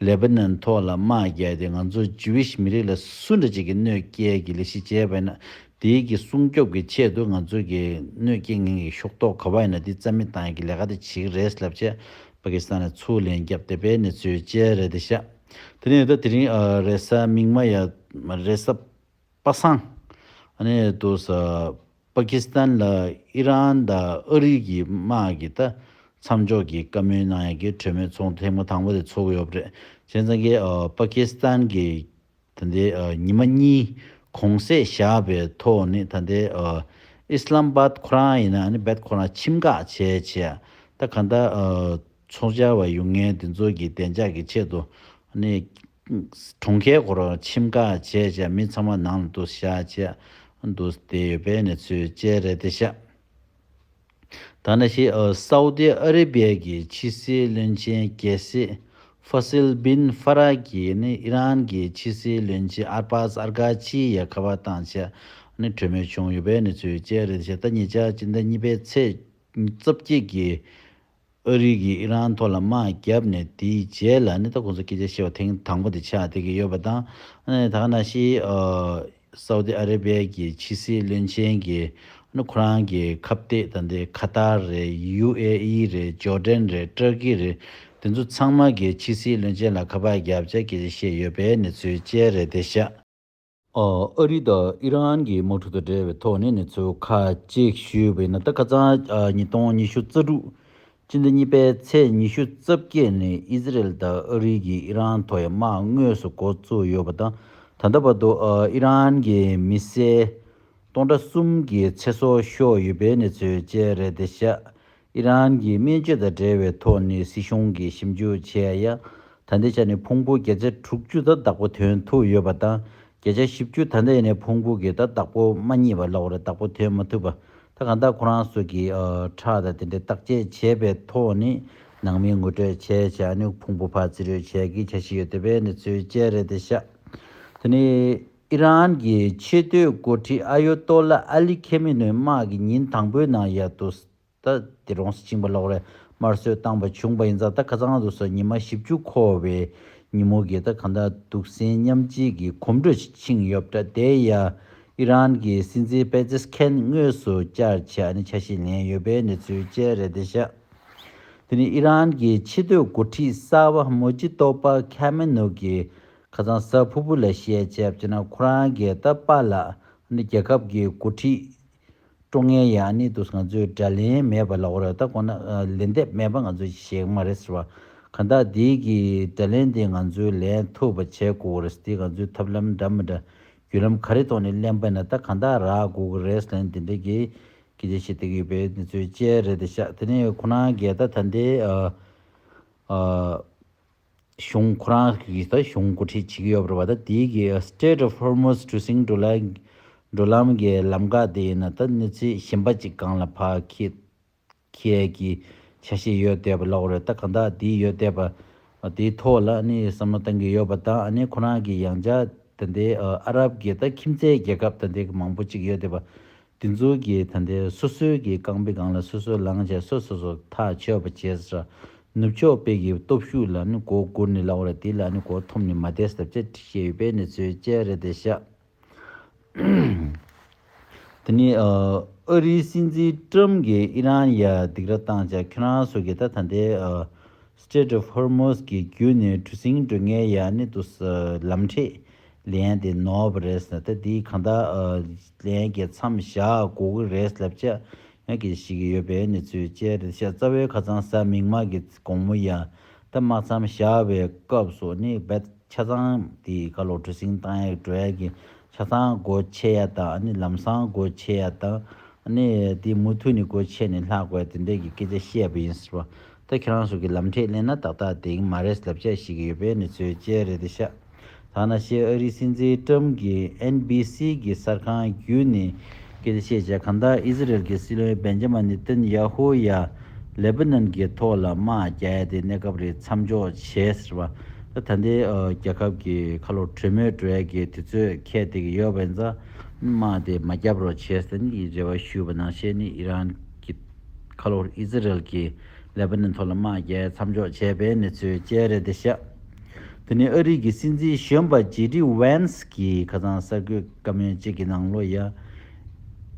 ལེ་བྷ་ནོན་ཐོག་ལ་དམག་རྒྱག་སྟེ་ང་ཚོ Jewish མི་རིགས་ལ་སུ་འདྲ་ཅིག་གི་གནོད་སྐྱེལ་གྱི་ལས་གཞི་བྱས་པ་ཡིན་ན་དེའི་གི་སྲུང་སྐྱོབ་གི་ཆེད་དུ་ང་ཚོ་གི་གནོད་སྐྱེལ་ངན་གྱི་ཤོག་ཐོག་ག་བ་ཡིན་ན་དེ་རྩ་མེད་གཏང་གི་ལས་ཀ་དེ་བྱེད་གི་རེད་ལབ་ཆེད Pakistan ལ་ཚུར་ལན་རྒྱབ་སྟེ་པའི་གནས་ཚུལ་བཅས་རེད་དེ་ཤ་དེ་ནས་ད་དེ་རིང་རེས་གཟའ་མིག་དམར་ཡ་རེས་གཟའ། པ་སངས། གནས་དུ་ས། པ་ཀི་སི་ཐན་ལ་ཨི་རན་དང་ཨ་རི་གི་དམག་གིས་ད་མཚམས་འཇོག་གི་བཀའ་མོལ་གནང་ཡ་གི་གྲོས་མོལ་ཚོགས་འདུ་ཐེངས་མ་དང་པོ་དེ་ཚོགས་ཡོད་པ་རེད་བྱས་ཙང་གི་པ་ཀི་སི་ཐན་གི་ད་ལྟའི་ཉི་མ་གཉིས་གོང་བསད་བཞག་པའི་ཐོག་ནི་ད་ལྟའི་ཨི་སི་ལམ་སྦ་ཁོ་རང་ཡིན་ན་ཨ་ནི་སྦད་ཁོ་རང་ཁྱིམ་བཀག་བྱས་བྱས་ད་ག་ད་ཚོགས་བཅར་བ་ཡུལ་ངལ་འདི་ཚོ་གི་བདེ་འཇགས་ཀྱི་ཆེད་དུ། གྲོང་ཁའི་སྒོ་རོ་ཁྱིམ་ཁ་བྱས་བྱས་མི་ཚང་མ་ནང་ལ་འདུག་ཤ་བཅད་འདུག་བསྡད་ཡོད་པའི་གནས་ཚུལ་བཅས་རེད་དེ་ཤ་ད་ནས་ཤི་ཨོས་སའུ་ཏི་ཨ་རི་བྷེ་ཀྱི་ཕྱི་སྲིད་བློན་ཆེན་རྒྱལ་སྲིད་ཧྥ་སིལ་བིན་ཧྥ་ར་གྱི་ནི་ཨི་རན་གྱི་ཕྱི་སྲིད་བློན་ཆེན་ཨར་པཱ་སཱར་གྷ་ཆིའི་ཡ་ག་བ་དང་བཅས་ནི་གྲོས་མོལ་བྱུང་ཡོད་པའི་གནས་ཚུལ་བཅས་རེད་དེ་ཤ་ད་ཉེ་ཆར་སྤྱི་ཟླ་གཉིས་པའི་ཚེས་བཅོ་བརྒྱད་ཀྱི་ཨ་རིག་གིས་ཨི་རན་ཐོག་ལ་དམག་བརྒྱབ་ནས་དེའི་རྗེས་ལ་ནི་ད་ཁོང་ཚོ་སྐད་ཆ་བཤད་པ་ཐེངས་དང་པོ་དེ་ཆགས་དེ་གི་ཡོད་པ་དང། ད་ག་ན་ཤི་སཱ་ཨུ་དི་ཨ་རེ་བྷེ་གི་ཕྱི་སྲིད་བློན་ཆེན་གི་ཁོ་རང་གི་ཁ་བཏེགས་ད་འདི་ཁ་ཏར་རེད་ཡུ་ཨེ་ཨི་རེད་ཇོར་ཏན་རེད་ཏྲར་ཀི་རེད་དེ་ཚོ་ཚང་མ་གི་ཕྱི་སྲིད་བློན་ཆེན་ལ་ཁ་པར་བརྒྱབ་བྱ་སྐད་ཆ་བཤད་ཡོད་པའི་ནི་ཚུལ་དཔྱད་རེད་དེ་ཤ། ཨ་རི་དང་ཨི་རན་གྱི་དམག་འཁྲུག་དང་འབྲེལ་བའི་ཐོག་ནས་གནས་ཚུལ་ཁ་ཅིག་ཞུས་པའི་ནང་དུ་ཁ་སང་ཉིས་སྟོང་ཉི་ཤུ་རྩ་དྲུག་ཕྱི་ཟླ་གཉིས་པའི་ཚེས་ཉི་ཤུ་རྩ་བརྒྱད་ནས་ཨི་ཟི་རལ་དང་ཨ་རི་གྱིས་ཨི་རན་ཐོག་ཡར་དམག་དངོས་སུ་འགོ་བཙུགས་ཡོད་པ་དང་ད་ལྟ་བར་དུ་ཨི་རན་གྱི་མི་སེར་སྟོང་ཕྲག་གསུམ་གྱི་ཚེ་སྲོག་ཤོར་ཡོད་པའི་གནས་ཚུལ་བཅས་རེད་དེ་ཤ་ཨི་རན་གྱི་སྨན་བཅོས་དང་འབྲེལ་བའི་ཐོག་ནས་སྲིད་གཞུང་གིས་ཞིབ་འཇུག་བྱས་ཡ། ད་ལྟའི་ཆ་ནས་ཕུང་པོ་བརྒྱ་ཆ་དྲུག་ཅུ་དང་བདག་པོ་དོན་ཐུག་ཡོད་པ་དང་བརྒྱ་ཆ་བཞི་བཅུ་ད་ལྟའི་ནས་ཕུང་པོ་བརྒྱད་དང་བདག་པོ་མ་གཉིས་པ་ལ་བར་བདག་པོ་དོན་མ་ཐུབ་པ་དང་གང་དག་ཁོ་རང་སོགས་ཀྱིས་ཁྲག་དང་དེ་འདྲའི་བརྟག་དཔྱད་བྱས་པའི་ཐོག་ནས་ནང་མི་ངོ་སྤྲོད་བྱས་བྱས་ཨ་ནུ་ཕུང་པོ་ཕར་བརྩི་རོལ་བྱས་ཀྱི་ཆ་ཞིག་ཡོད་འདོད་པའི་གནས་ཚུལ་བཅས་རེད་དེ་ཤ་ད་ནི། ཨི་རན་གྱི་ཆེས་མཐོའི་འགོ་ཁྲིད་ཨ་ཡོ་ཏོ་ལ་ཨ་ལི་ཁེ་མེ་ནོའི་དམག་གིས་ཉིན་དང་པོའི་ནང་ཡ་ཏུ་སྟ་དེ་རོང་སྲིད་བྱིངས་པ་ལོག་རེས་དམར་གསོད་བཏང་བ་བྱུང་བ་ཡིན་ཙང་ད་ག་ཚང་དུ་སོ་ཉི་མ་བཞི་བཅུ་འཁོར་བའི་ཉིན་མོ་གི་ད་ག་འདའ་འདུག་སེམས་མཉམ་བསྐྱེད་ཀྱི་གོམ་འགྲོས་ཤིག་ཕྱིན་ཡོད་པ་འདྲ་དེ་ཡང་ཨི་རན་གྱི་སྲིད་འཛིན་པེ་ཛེས་ཁན་དངོས་སུ་བསྐྱར་ཆ་ནས་ཆ་ཤས་ལེན་ཡོད་པའི་གནས་ཚུལ་བཅས་རེད་བདེ་ཞག་དེ་ནི་ཨི་རན་གྱི་ཆེས་མཐོའི་འགོ་ཁྲིད་གསར་བ་མོ་ཇི་ཏོ་པ་ཁེ་མེ་ནོ་གིས་ཁ་རྩང་ས་ཕུར་བུ་ལ་བཤད་ཆ་བྱས་ན་ཁོ་རང་རྒས་རྟ་པ་ལགས་ནི་རྒྱལ་ཁབ་ཀྱི་འགོ་ཁྲིད་སྤྲོ་ངན་ཡག་ནི་འདུག་ང་ཚོས་དགྲ་ལན་མེད་པ་ལགས་ར་ད་གོ་ན་ལན་འདེབས་མེད་པ་ང་ཚོ་ཞེ་མ་རེད་ཟེར་བ་ག་འདག་འདི་གི་དགྲ་ལན་འདི་ང་ཚོས་ལན་ཐུབ་པ་བྱས་དགོ་རེད་འདི་ང་ཚོའི་ཐབས་ལམ་འདྲ་མི་འདྲ་རྒྱུད་ལམ་ག་རེ་ཐོག་ནས་གླེན་པ་ན་ད་ག་འདག་རག་དགོ་གི་རེད་ལན་འདི་འདྲ་གི་གི་རྗེ་ཞེ་འདེགས་ཡོད་པའི་འདི་ཚོའི་དཔྱད་རེད་འདི་ཤག་དེ་ནས་ཁོ་རང་རྒས་རྟ་ད་འདི་ཨ་ཨ། གཞུང་ཁོ་རང་གི་ད་གཞུང་མགོ་ཁྲིད་བྱེད་ཀྱི་ཡོད་པར་བ་ད་དེའི་གི Strait of Hormuz གྲུ་གཟིངས་འགྲོ་ལམ་འགྲོ་ལམ་གི་ལམ་འགག་དེ་ཡིན་ན་ད་གནོད་འཚེ་ཞིམ་པ་ཅིག་གང་ལ་ཕག་ཁེད་ཁེད་ཀྱི་ཆ་ཤས་ཡོད་བསྡད་པ་ལོག་རེད་ད་གང་དག་དེ་ཡོད་བསྡད་པ་དེའི་ཐོག་ལ་ནི་བསམ་བློ་གཏང་གི་ཡོད་པ་དང་ཨ་ནེ་ཁོ་རང་གི་ཡང་ཇག་ད་དེ་ཨ་རབ་གི་ད་ཁྱིམ་མཚེས་རྒྱལ་ཁབ་ད་དེ་གི་མང་པོ་ཅིག་ཡོད་བསྡད་པ་དེ་ཚོ་གིས་ད་ལྟའི་སོ་སོའི་གི་རྐང་པའི་སྒང་ལ་སོ་སོའི་ལངས་ཆ་སོ་སོ་སོ་ཐག་ཆོད་པ་བྱས་ཟ། ནུབ་ཕྱོགས་དཔེ་གི་སྟོབས་ཤུགས་ལ་ནི་མགོ་སྒུར་ནས་ལག་བར་དེ་ལ་ནི་གོ་ཐོབ་ནས་མ་བསྡད་ཟབ་བྱ་ཁྲིད་ཤེས་ཡོད་པའི་གནས་ཚུལ་བཅས་རེད་དེ་ཤག། དེ་ནི་ཨ་རིའི་སྲིད་འཛིན་ཀྲུམ་གིས་ཨི་རན་ཡ་སྡིག་ར་བཏང་ཅག་ཁྱོད་རང་སོ་གི་ད་ད་ལྟའི Strait of Hormuz གི་རྒྱུད་ནས་གྲུ་གཟིངས་འགྲོས་ངའི་ཡ་ནི་དུ་ལམ་འཕྲེད་ལན་དེ་ནོར་བ་རེད་ཟེར་ད་དེ་གང་དག་ལན་གྱི་མཚམས་བཞག་དགོས་ཀྱི་རེད་ལབ་བྱ་ཡག་གི་ཞིག་གི་ཡོད་པའི་ནི་ཚུལ་བཅད་རེད་ཤག་རྩ་བའི་ཁ་ཚང་ས་མིག་དམག་གི་དགོང་མོ་ཡ་ད་དམག་མཚམས་བཞག་བའི་སྐབས་སུ་ནི་བད་ཆ་ཚང་དེ་ག་ལོ་གྲུ་སིང་ཏང་ཡག་གྲོ་ཡག་གི་ཆ་ཚང་སྒོ་ཕྱེ་ཡ་དང་ནི་ལམ་སང་སྒོ་ཕྱེ་ཡ་དང་ནི་དེ་མུ་ཐུ་ནི་སྒོ་ཕྱེ་ནི་ལྷག་དགོས་དེ་འདྲས་གི་སྐད་ཆ་བཤད་པ་ཡིན་ཟེར་བ་ད་ཁྱེད་རང་ཚོ་གི་ལམ་ཁྲིད་གླེང་ན་ཏག་ཏག་དེ་མ་རེད་ལབ་ཆ་ཞིག་ཡོད་པའི་ནི་ཚོའི་དཔྱད་རེད་དེ་ཤ་ཐག་ན་ཤེས་ཨ་རིའི་སྲིད་འཛིན་ཀྲམ་གྱི་ཨེན་བྷི་སི་གི་གསར་ཁང་བརྒྱུད་ནི་སྐད་ཆ་བཤད་བྱ་གང་དག་ཨི་ཟི་རེལ་གི་སྲིད་བློན་སྦེན་ཇ་མ་ནི་ཏིན་ཡ་ཧུ་ཡ་ལེ་བྷི་ནན་གྱི་ཐོག་ལ་དམག་རྒྱག་ཡ་དེ་གནས་སྐབས་རེད་མཚམས་འཇོག་བྱེད་ཟེར་བ་ད་ད་འདི་རྒྱལ་ཁབ་གི་ཁ་ལོ་གྲོས་མོལ་གྲོལ་ཡ་གི་དུས་ཚོད་ཁད་དེ་གི་ཡོད་བས་མཚམས་དམག་དེ་མ་རྒྱབ་རོགས་བྱེད་ཟེར་ནི་ཡི་རེ་བ་ཞུས་བ་ནང་བཤད་ནི་ཨི་རན་གྱི། ཁ་ལྷོར་ཨི་ཛི་རེལ་གྱིས་ལེ་བྷ་ནན་མཐོ་ལ་དམག་རྒྱལ་མཚམས་འཇོག་བྱས་པའི་གནས་ཚུལ་བཅས་རེད་དེ། དེ་ནི་ཨ་རིག་གི་སྲིད་འཛིན་གཞོན་པ་ཇེ་ཏི་ཝན་སི་གིས་ཁ་ཚང་གསར་འགོད་བཀའ་མོལ་གཅིག་གི་ནང་ལོ་ཡ།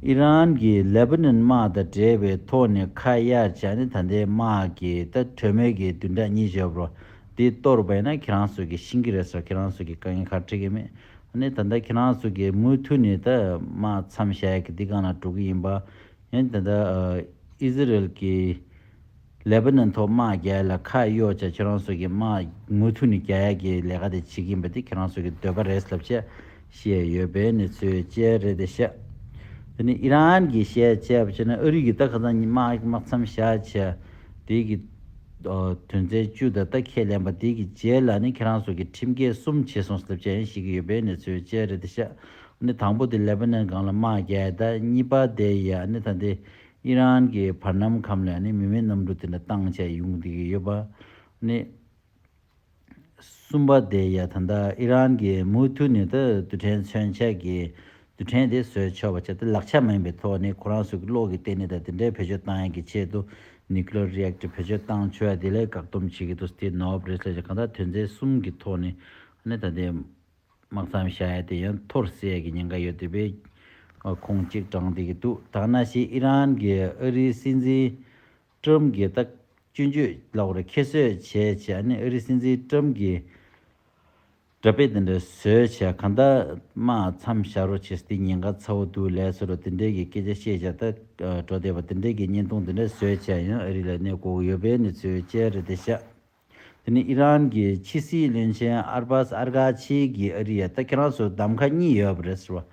ཨི་རན་གྱིས་ལེ་བྷ་ནན་དམག་དང་འབྲེལ་བའི་ཐོག་ནས་ཁ་གཡར་བྱ་ནི་ད་ལྟའི་དམག་གི་ལྟ་གྲོས་མོལ་གྱི་བདུན་ཕྲག་གཉིས་བརྗེ་བར་འདི་གཏོར་བས་ན་ཁྱེད་རང་ཚོ་གིས་ཤིན་གྱི་རེད་སོགས་ཁྱེད་རང་ཚོ་གི་དཀའ་ངལ་ཁག་འཕྲད་ཀྱི་མེད་ནི་ད་ལྟ་ཁྱེད་རང་ཚོ་གིས་མུ་མཐུད་ནས་དམག་མཚམས་བཞག་གི་འདི་གང་ལ་འགྲོ་གི་ཡིན་པ། ཡང་དེ་ལྟར་ཨིསི་རཱཨེལ་གྱིས་ལེ་བྷ་ནོན་ཐོག་དམག་རྒྱལ་ལ་ཁ་གཡོག་བྱས་ཁྱེད་རང་ཚོ་གིས་དམག་མུ་མཐུད་ནས་རྒྱ་ཡལ་གྱི་ལས་ཀ་དེ་བྱེད་ཀྱིན་པ་དེ་ཁྱེད་རང་ཚོ་གི་འདོད་པ་རེད་ལབ་ཆེད་བཤད་ཡོད་པའི་གནས་ཚུལ་བཅས་རེད་དེ་བཤད། དེ་ནི་ཨི་རན་གྱིས་བཤད་བྱས་པ་ཆོད་ནས་ཨ་རིས་གིས་ད་ག་ཚང་གཉིས་དམག་མཚམས་བཞག་བྱས་དེ་གི་དོན་ཚན་བཅུ་དང་ད་ཁས་ལེན་པ་དེ་གི་རྗེས་ལ་ནི་ཁྱེད་རང་ཚོ་གིས་ཁྲིམས་འགལ་གསུམ་བྱས་སོང་ལབ་ཆེད་བཤད་ཀྱི་ཡོད་པའི་གནས་ཚུལ་བཅས་རེད་དེ་བཤད། ནི་དང་པོ་དེ་ལེ་བྷ་ནན་སྒང་ལ་དམག་བརྒྱད་དང་གཉིས་པ་དེ་ཡི་ནི་ད་དེ་ཨི་རན་གྱི་བར་སྣམ་ཁམས་ལ་ནི་མི་མེད་གནམ་གྲུ་དེ་འདྲ་བཏང་བྱས་ཡོང་བསྡད་ཀྱི་ཡོད་པ། ནི་གསུམ་པ་དེ་ཡི་ད་ལྟ་ཨི་རན་གྱི་མུ་མཐུད་ནས་ད་དུ་ཕྲན་མཚོན་ཆེད་ཀྱི་དུ་ཕྲན་དེ་བཟོས་ཆོག་པ་བྱས་ཏེ་ལག་ཆ་མ་ཡིན་པའི་ཐོག་ནས་ཁོ་རང་ཚོ་གི་བློ་གི་སྟེང་ནས་ད་དེ་འདྲའི་བེད་སྤྱོད་བཏང་ཡས་ཀྱི་ཆེད་དུ Nuclear Reactor བེད་སྤྱོད་བཏང་ཆོས་དེ་ལས་བཀག་སྡོམ་བྱས་ཀྱི་འདུག་སྟེ་ནོབ་རེས་ལས་ཀྱི་གང་དག་དོན་ཚན་གསུམ་གྱི་ཐོག་ནས་ནི་ད་དེ་དམག་མཚམས་བཞག་ཡ་དེ་ཡང་མཐོར་བསྲེས་ཀྱི་ཉེན་ཁ་ཡོད་དུས་པའི་ཁུངས་གཅིག་བགྲང་བསྡད་ཀྱི་འདུག་ཐ་ན་ཞིག་ཨི་རན་གྱི་ཨ་རིའི་སྲིད་འཛིན Trump གྱི་ལྟ་སྤྱོད་བརྗོད་ལ་བོར་ཁྱད་གསོད་བྱས་བྱས་ཨ་ནི་ཨ་རིའི་སྲིད་འཛིན Trump གྱི་འདྲ་དཔེ་དེ་འདྲ་བཟོས་བྱས་གང་ལྟར་དམག་མཚམས་བཞག་རོགས་བྱས་ཟེར་དུས་ཉེན་ཁ་ཚ་བོ་འདུག་ལས་སུ་རུ་དེ་འདྲའི་གི་སྐད་ཆ་བཤད་བྱས་ད་གྲོ་བསྡད་པ་དེ་འདྲའི་གི་བརྙན་ཐུང་དེ་འདྲ་བཟོས་བྱས་ཡང་ཨ་རི་ལ་གནས་སྒོ་ཡོད་པའི་ནི་ཚོའི་དཔྱད་རེད་དེ་ཤ། དེ་ནི་ཨི་རན་གྱི་ཕྱི་སྲིད་བློན་ཆེན་ཨར་པཱས་ཨར་གྷ་ཆི་གིས་ཨ་རི་ཡ་ལྟ་ཁྱེད་རང་ཚོར་གདམ་ཁ་གཉིས་ཡོད་པ་རེད་ཟེར་བ་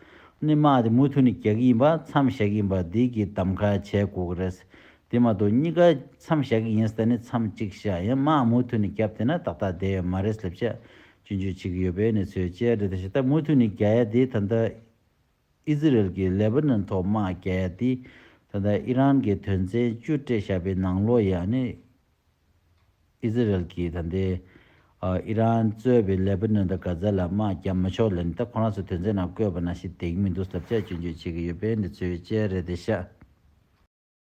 ནི་དམག་དེ་མུ་མཐུད་ནས་རྒྱག་གི་ཡིན་པ་མཚམས་བཞག་གི་ཡིན་པ་དེ་གི་གདམ་ཁ་བྱས་དགོས་ཀྱི་རེད། དེ་མ་གཏོགས་གཉིས་ཀ་མཚམས་བཞག་གི་ཡིན་ཟེར་ནས་མཚམས་གཅིག་བཞག་ཡང་དམག་མུ་མཐུད་ནས་བརྒྱབ་དེ་ན་ཏག་ཏག་བསྡད་ཡོད་མ་རེད་སླེབས་བྱ། སྤྱོད་འཇུག་བྱེད་ཀྱི་ཡོད་པའི་གནས་ཚུལ་བཅས་རེད་དེ་ཞིག་ད་མུ་མཐུད་ནས་རྒྱ་ཡ་དེ་ད་ལྟ། ཨི་ཟི་རེལ་གྱིས་ལེ་བྷ་ནོན་ཐོག་དམག་རྒྱག་ཡ་དེ། ད་ལྟ་ཨི་རན་གྱི་དོན་ཚན་བཅུ་སྤྲད་བཞག་པའི་ནང་ལོགས་ཡ་ནི། ཨི་ཟི་རེལ་གྱིས་ད་ལྟའི་ཨི་རན་གཙོས་པའི་ལེ་བྷ་ནོན་དང་གྷ་ཛ་ལ་དམག་རྒྱག་མི་ཆོག་ལན། ད་ཁོ་རང་ཚོའི་དོན་ཚན་ནང་བཀོད་པ་ནང་བཞིན་དེ་གི་མི་འདུག་ཟབ་ཆ་སྐྱོན་བརྗོད་བྱེད་ཀྱི་ཡོད་པས་འདི་ཚོའི་དཔྱད་རེ་དེ་བཤད།